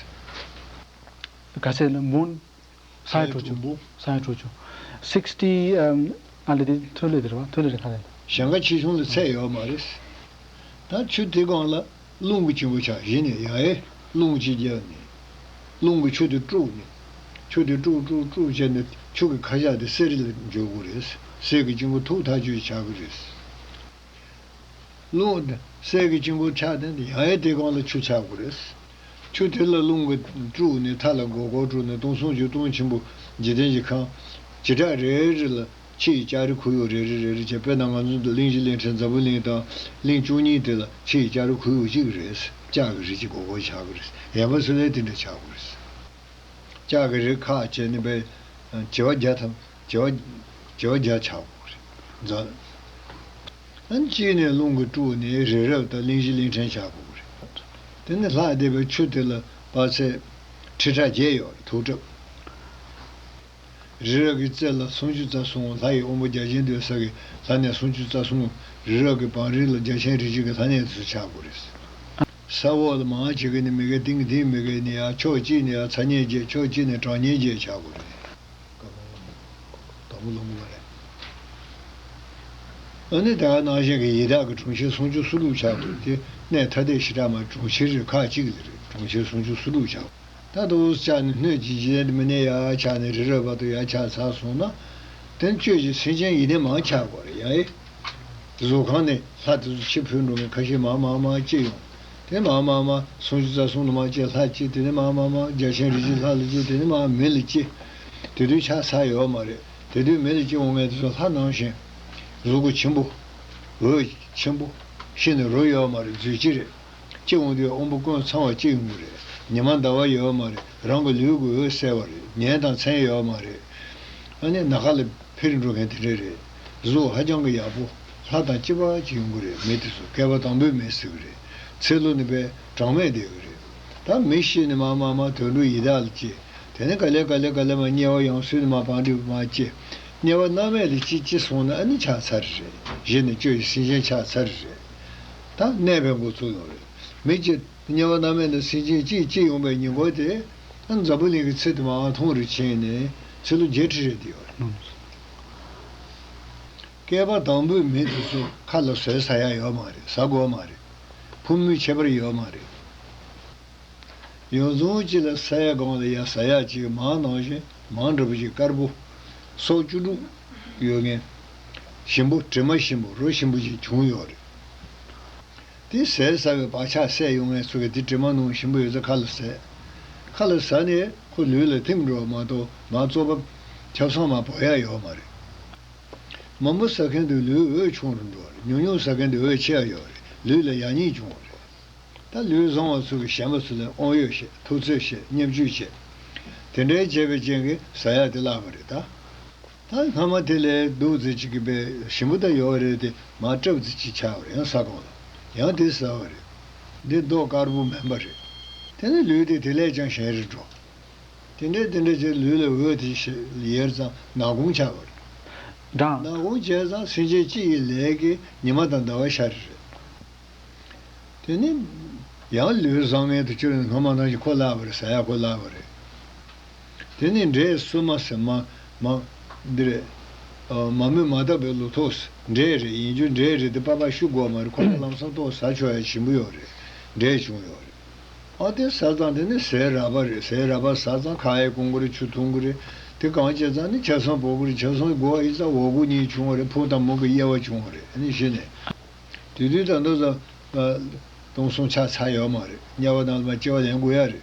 ག་ཚད་ལ་འབུང། ས་ཡི་གྲོག་ཆུ། ས་ཡི་གྲོག་ཆུ། Sixty ཨ་ལེ་དེ་ཐོན་ལས་དེར་བ་ཐོན་ལས་རེད་ག་རེད། ཞང་ཀ་ཆེ་ཆུང་ལ་ཚད་ཡོད་མ་རེད། ད་ཆུ་དེ་སྒང་ལ་རླུང་གི་སྤྱི་བོ་ཆགས་གཞི་ནས་ཡ་ཨེ་རླུང་སྤྱི་རྒྱ་ནས། རླུང་གི་ཆུ་དེ་དཀྲུགས་ནས། ཆུ་དེ་དཀྲུགས་དཀྲུགས་དཀྲུགས་བྱས་ནས་ཆུ་གི་ཁ་ཤགས་དེ་གསེར་རི་ལ་འཇོག་དགོས་རེད། གསེར་གི་སྤྱི་བོ་ཐུག་ཐག་ཆོད་ཆགས་ཀྱི་རེད། རླུང། གསེར་གྱི་དཀྱིལ་འཁོར་ཕྱག་མཚན་དེ་ཡང་ཡང་བཏེག་གང་ལ་ཆུ་ཆག་དགུ་རེས། ཆུ་དེ་ལ་རླུང་གི་དཀྲུགས་ནས་མཐའ་ལ་སྒོ་སྒོར་དཀྲུགས་ནས་སྟོང་ཟུང་ཆིག་སྟོང་ཆེན་པོ་འཇིག་རྟེན་གྱི་ཁམས། བྱེ་བྲག་རེ་རེ་ལ་ཕྱི་ཡི་ལྕགས་རི་ཁུ་ཡུག་རེ་རེ་རེ་རེ་བྱས་དཔེར་ན་ང་ཚོ་འདི་གླིང་བཞི་གླིང་ཕྲན་འཛམ་བུའི་གླིང་དང་གླིང་བཅུ་གཉིས་དེ་ལ་ཕྱི་ཡི་ལྕགས་རི་ཁུ་ཡུག་གཅིག་རེས་ལྕགས་ཀྱི་རི་གཅིག་སྒོ་སྒོར་ཆག་གི་རེས་ཡན་པ་སུ་ལས་དེ་འདྲ་ཆག་དགུ་རེས། ལྕགས་ཀྱི་རི་ཁ་བྱས་ནས་པའི་བྱེ་བ་བརྒྱ་དང། བྱ་བ་བརྒྱ་ཆགས་པོ་རེད། མཛའ། གཅིག་ནས་རླུང་གི་དཀྲུགས་ནས་རི་རབ་དང་གླིང་བཞི་གླིང་ཕྲན་ཆགས་པོ་རེད། དེ་ནས་ལྷག་བསྡད་པའི་ཆུ་དེ་ལ་དཔག་ཚད། ཁྲི་ཕྲག་བརྒྱད་ཡོད་རེད་དུག་ཁྲབ། རི་རབ་ཀྱི་རྩེ་ལ་སུམ་ཅུ་རྩ་གསུམ་ལྷ་ཡི་དབོན་པོ་བརྒྱ་བྱིན་འདུས་ས་ཀྱི་ལྷ་ནས་སུམ་ཅུ་རྩ་གསུམ། རི་རབ་ཀྱི་བང་རིམ་ལ་བརྒྱ་བྱིན་རི་བྱིན་གྱི་ལྷ་ནས་སུ་ཆགས་པོ་རེད། ས་འོག་ལ་མང་བྱེད་ཀྱི་ནི་མི་དགེ་ཏིང་གི་ཏིང་མི་དགེ་ནི་ཡང་ཕྱོགས་གཅིག་ནས་ཡང་ཚ་ཉེན་བརྒྱད་ཕྱོགས་གཅིག་ནས་གྲང་ཉེན་བརྒྱད་ཆགས་པོ་རེད། དགའ་མོ་བླ་མོ་བླ་མོ་ལ་རེད། ནི་དག་སྣང་ཞིང་གི་ཡི་དྭགས་ཀྱི་གྲོང་ཁྱེར་སུམ་ཅུ་སོ་དྲུག་ཆགས་འདུག་དེ་གནས་ཐ་དད་ཞི་དྲག་མ་གྲོང་ཁྱེར་རེ་ཁག་གཅིག་ལས་རེད་གྲོང་ཁྱེར་སུམ་ཅུ་སོ་དྲུག་ཆགས། ད་དུ་ཨུས་ཆགས་ནས་སྣོད་ཀྱི་རྗེས་མི་གནས་ཡ་ཆགས་ནས་རི་རོལ་བར་དུ་ཡ་ཆགས་ཚར་སོང་ན། དོན་གཅོད་ཀྱི་སེམས་ཅན་ཡི་ནི་མང་ཆགས་དགོས་རེད་ཡ་ཨི། གཟུགས་ཁང་ནས་ལྷ་དེ་ཚོ་ཕྱི་བུད་འགྲོ་མཁན་ཁ་ཤས་མང་མང་མང་སྐྱེས་ཡོང། དེ་མ་མ་མ། སུམ་བཅུ་རྩ་གསུམ་ལ་མ་སྐྱེས་ལྷ་གཅིག་དེ་ནི་མ་མ་མ། བརྒྱ་བྱིན་རིགས་ཀྱི་ལྷ་ལ་སྐྱེས་དེ་ནི་མ་མི་ལ་སྐྱེས། དེ་དུས་ཆགས་ས་ཡོད་མ་རེད། དེ་དུས་མི་ལ་སྐྱེས་འོང་ངེས་དེ་ཚོ་ལྷ་སྣང་ཞིང། གཟུགས་སྐུ་ཆེན་པོ། འོད། ཆེན་པོ། ཤི་ནས་རོ་ཡོད་མ་རེད་རྫུས་སྐྱེས་རེད། སྐྱེས་འོང་དུས་དབང་པོ་ཀུན་ཚང་བ་གཅིག་ཡོང་གི་རེད། ཉི་མ་ཟླ་བ་ཡོད་མ་རེད་རང་གི་ལུས་ཀྱི་འོད་གསལ་བ་རེད་ཉན་དང་མཚན་ཡོད་མ་རེད། ཨ་ནི་ནག་ཁ་ལ་ཕེར་འགྲོ་མཁན་དེ་འདྲ་རེད། གཟུགས་ཧ་ཅང་གི་ཡག་པོ། ལྷ་དང་སྐྱི་པགས་ཅིག་ཡོང་གི་རེད་མི་དེ་ཚོ་བསྐལ་པ་དང་པོའི་མི་ཟེར་གི་རེད། ཚེ་ལོ་ནི་པས་གྲངས་མེད་འདས་གི་རེད། ད་མི་ཤི་ནི་མ་མ་མ་དུད་འགྲོ་ཡི་དྭགས་ལ་སྐྱེ། དེ་ནི་ག་ལེ་ག་ལེ་ག་ལེ་མ་དམྱལ་བ་ཡང་སུས་ནི་མ་བག་འགྲིབ་མ་སྐྱེ། དམྱལ་བ་སྣང་མེད་དེ་ཅི་ཅི་སོང་ནི་ཨ་ནི་ཆགས་ཚར་རེད་གཞི་ནི་སྐྱོ་ཡི་སེམས་ཅན་ཆགས་ཚར་རེད། ད་གནས་པའི་འགོ་ཚུགས་ཡོང་རེད་མི་སྐྱེ། དམྱལ་བ་སྣང་མེད་ནི་སེམས་ཅན་སྐྱིད་སྐྱིད་ཡོང་པའི་ཉིན་གོ་དེ། ཨ་འཛམ་བུ་གླིང་གི་ཚེ་དེ་མའང་ཐུང་རུ་ཕྱིན་ནས་ཚེ་ལོ་བརྒྱད་ཁྲི་རེ་འདས་ཡོང་རེད། བསྐལ་པ་དང་པོའི་མི་དེ་ཚོ་ཁ་ལ་ཟོས་ཟ་ཡག་ཡོད་མ་རེད་ཟ་དགོས་མ་རེད། ཕུ་མུའི་ཁྱད་པར་ཡོད་མ་རེད། ཡོང་རྫུན་གཅིག་ལ་ཟས་གང་ལ་ཡག་ཟ་ཡག་གཅིག་མང་ནང་བཞིན་མང་འདྲ་པོ་གཅིག་དཀར་པོ། སོག་བཅུ་དྲུག། ཡོད་ངེས། ཞིམ་པོ་དྲི་མ་ཞིམ་པོ་རོ་ཞིམ་པོ་གཅིག་བྱུང་ཡོད་རེད། དེ་ཟས་ཟ་བའི་བག་ཆགས་སད་ཡོང་ངས་ཚོ་གས་དེ་དྲི་མ་ནོངས་ཞིམ་པོ་ཡོད་ཚད་ཁ་ལ་ཟས། ཁ་ལ་ཟ་ནས་ཁོ་ལུས་ལ་ཐིམ་འགྲོ་བ་མ་གཏོགས་མ་གཙོ་བབ། ཆབ་སངས་མ་བོར་ཡག་ཡོག་མ་རེད། མང་པོ་ཟ་མཁན་དུ་ལུས་འོད་ཆུང་རུ་འགྲོ་རེད་ཉུང་ཉུང་ཟ་མཁན་དུ་འོད་ཆེ་ཡག་ཡོག་རེད་ལུས་ལ་ཡག་ཉེས་འབྱུང་བ་རེད། ད་ལུས་བཟང་བ་ཚོ་གས་གཞན་པ་ཚོ་ལས་ཨོང་ཡོད་བཤད་ཐུགས་བརྩེ་བཤད་བརྙས་བཅོས་བྱས། དེ་འདྲའི་བྱས་པའི་རྐྱེན་གས་ཟ་ཡག་དེ་བརླག་པ་རེད་ད། ད་སྔ་མ་དེ་ལས་བདུད་རྩི་གཅིག་གི་དཔེ་ཞིམ་པོ་དག་ཡོད་རེད་དེ་མ་སྤྲབས་རྩི་གཅིག་ཆགས་པར་ཡང་ས་གོང་ལ་ཡང་དེ་ཟ་བ་རེད། འདི་མདོག་དཀར་པོ་མིན་པ་རེད། དེ་ནི་ལུས་དེ་དེ་ལས་ཀྱང་གཞན་རེ་འགྲོ། དེ་འདྲའི་དེ་འདྲ་བྱས་ལུས་ལ་འོད་དེ་ཞེས་ཡེར་ཙང་ནག་གུང་ཆགས་པ་རེད། ནག་འབྲང། གུང་བྱས་ཙང་སེམས་ཅན་སྤྱི་ཡི་ལས་ཀྱི་ཉི་མ་དང་ཟླ་བ་ཤར་རེ་རེད། དེ་ནི། ཡང་ལུས་བཟང་ངན་དུ་བཅོས་ནས་སྔ་མ་ནང་བཞིན་ཁོ་བརླགས་པ་རེད་ཟ་ཡག་ཁོ་བརླགས་པ་རེད། དེ་ནས་འདྲེ་གསོད་མ་ཟེར། མ། མ། འདྲེ། མ་མོས་མ་བཏབ་པའི་ལོ་ཐོག། འདྲེ་རེད་ཡིན་རྒྱུ་འདྲེ་རེད་དེ་པ་པ་ཤུ་གོ་མ་རེད་ཁོ་ལ་ལམ་སང་ཏོག་ཟ་ཆོག་ཡ་བྱིན་པོ་ཡོག་རེད་འདྲེ་བྱུང་ཡོག་རེད། ཨ་དེ་ཟ་ཙང་དེ་ནི་ཟས་ར་པ་རེད་ཟས་ར་པ་ཟ་ཙང་ཁ་ཡེ་གོང་གོ་རེད་ཆུ་འཐུང་གོ་རེད་དེ་གང་བྱེད་ཙང་ནི་བྱ་སོང་བོ་གོ་རེད་བྱ་སོང་གོ་ཨི་ཙང་འོ་གོ་གཉིས་བྱུང་བ་རེད་ཕུག་དང་མུག་གི་དབྱེ་བ་བྱུང་བ་རེད་ནི་བྱེད་ནས། དུས་དུས་དང་དུ་ཙང། སྟོང་སོང་ཆགས་ཚར་ཡོག་མ་རེད་དམྱལ་བ་དང་ལ་མ་སྐྱེ་བ་ལེན་དགོས་ཡ་རེད།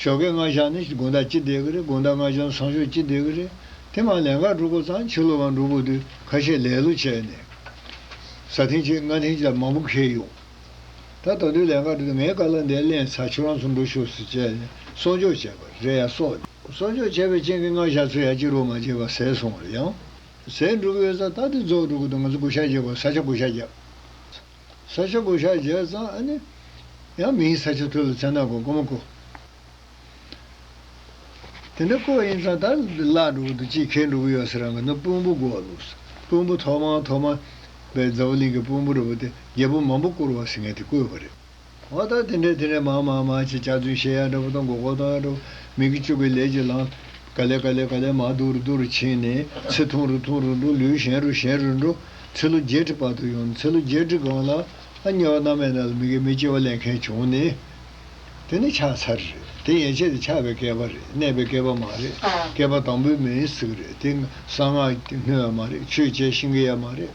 ཞོགས་ཀའི་སྔ་ཞག་ནི་དགོན་བདག་སྤྱི་བདེ་གི་རེད་དགོན་བདག་སྔ་ཞག་ཚང་ཞོགས་སྤྱི་བདེ་གི་རེད། དེ་མ་ལན་ཁ་འགྲོ་སྐོར་ཙང་ཕྱི་ལོ་བ་འགྲོ་དགོས་དུས་ཁ་ཤས་ལས་ལོ་བྱས་ནས། ས་ཐེངས་གཅིག་ལྔ་ཐེངས་ལ་མང་པོ་ཁེལ་ཡོང། ད་ད་དུས་ལན་ཁ་འགྲོ་དུས་ངས་ཀ་ལ་འདས་གླེང་ཚར་ཁྱོད་རང་ཚོ་འགྲོ་ཞོག་ཟེར་བྱས་ནས་གསོག་འཇོག་བྱས་པ་རེད་ཡ་གསོག་ནས། གསོག་འཇོག་བྱས་པའི་རྐྱེན་གྱིས་སྔ་ཞག་ཚོས་ཡ་སྤྱི་རོགས་མ་བྱས་པར་ཟས་སོང་རེད་ཡང། ཟས་འགྲུབ་ཡོད་ས་ད་དུས་རྫོགས་འགྲོ་དགོས་དུས་ང་ཚོ་བགོ་བཤའ་རྒྱག་པར་ས་ཆ་བགོ་བཤའ་རྒྱག། ས་ཆ་གོ་ཤག་བརྒྱད་གཙང་ཨ་ནི། ཡང་མིང་ས་ཆ་ཐོས་ལ་ཆ་ནག་གོ་ཀོ་མ་ཀོ། དེ་འདྲ་ཀོ་ཨིན་ཙང་ད་བརླག་འགྲོ་གི་འདུག་ཅིས་ཁེལ་འགྲོ་གི་ཡོད་ཟེར་རང་གི་ནི་དཔོན་པོ་གོ་ལུགས་སོ། དཔོན་པོ་ཐོག་མ་ཐོག་མ་བས་རྫ་བུ་གླིང་གི་དཔོན་པོ་རི་བོ་དེ་རྒྱལ་པོ་མང་པོ་བསྐོར་བ་ཟེར་མཁན་དེ་ཀོའི་བ་རེད། བ་དག་དེ་འདྲའི་དེ་འདྲའི་མང་མང་མང་ཅིག་ཅར་རྫུན་བཤད་ཡག་འདྲ་བོ་དང་མགོ་སྐོར་གཏོང་ཡག་འདྲ་བོ་མིག་གིས་བཅུག་པའི་ལས་ཀྱིས་ལངས། ག་ལེ་ག་ལེ་ག་ལེ་མ་རྡུ་རུ་རྡུ་རུ་ཕྱིན་ནས་ཚེ་ཐུང་རུ་ཐུང་རུ་འགྲོ་ལུས་གཞན་རུ་གཞན་རུ་འགྲོ། ཚེ་ལོ་བརྒྱད་ཁྲི་བར་དུ་ཡོང་ནས་ཚེ་ལོ་བརྒྱད་ཁྲི་སྒང་ལ་ཨ་མྱེས་བ་མནའ་མས་ན་ལ་མི་དགེ་མི་སྐྱེ་བ་ལེན་མཁན་བྱུང་ནས། དེ་ནི་ཆགས་ཚར་རེད་དེ་ཡན་ཆད་དེ་ཆགས་པའི་བསྐལ་པ་རེད་གནས་པའི་བསྐལ་པ་མ་རེད་བསྐལ་པ་དང་པོའི་མེའི་ཟུག་རེད་དེ་གསང་སྔགས་སྣོད་ཡ་མ་རེད་ཆོས་བྱས་ཤིང་གི་ཡ་མ་རེད།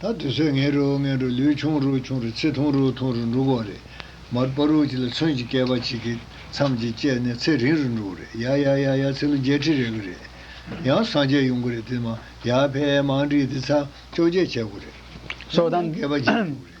ད་དུས་ཚོད་ངན་རུ་ངན་རུ་ལུས་ཆུང་རུ་ཆུང་རུ་ཚེ་ཐུང་རུ་ཐུང་རུ་འགྲོ་གོ་རེད། མར་པ་རུ་གཅིག་ལ་ཚོན་གྱི་སྐལ་པ་གཅིག་གིས་མཚམས་གཅིག་བཅད་ནས་ཚེ་རིང་རུ་འགྲོ་གི་རེད་ཡ་ཡ་ཡ་ཡ་ཚེ་ལོ་བརྒྱད་ཁྲི་རེག་གི་རེད། ཡང་སངས་རྒྱས་ཡོང་གི་རེད་དེ་མ་ཡ་ཕལ་མང་བྲིས་ཏེ་ཚ་བཅོ་བརྒྱད་བྱེད་དགོས་རེད། སོ་དང། སྐལ་པ་གཅིག་འགྲོ་གི་རེད།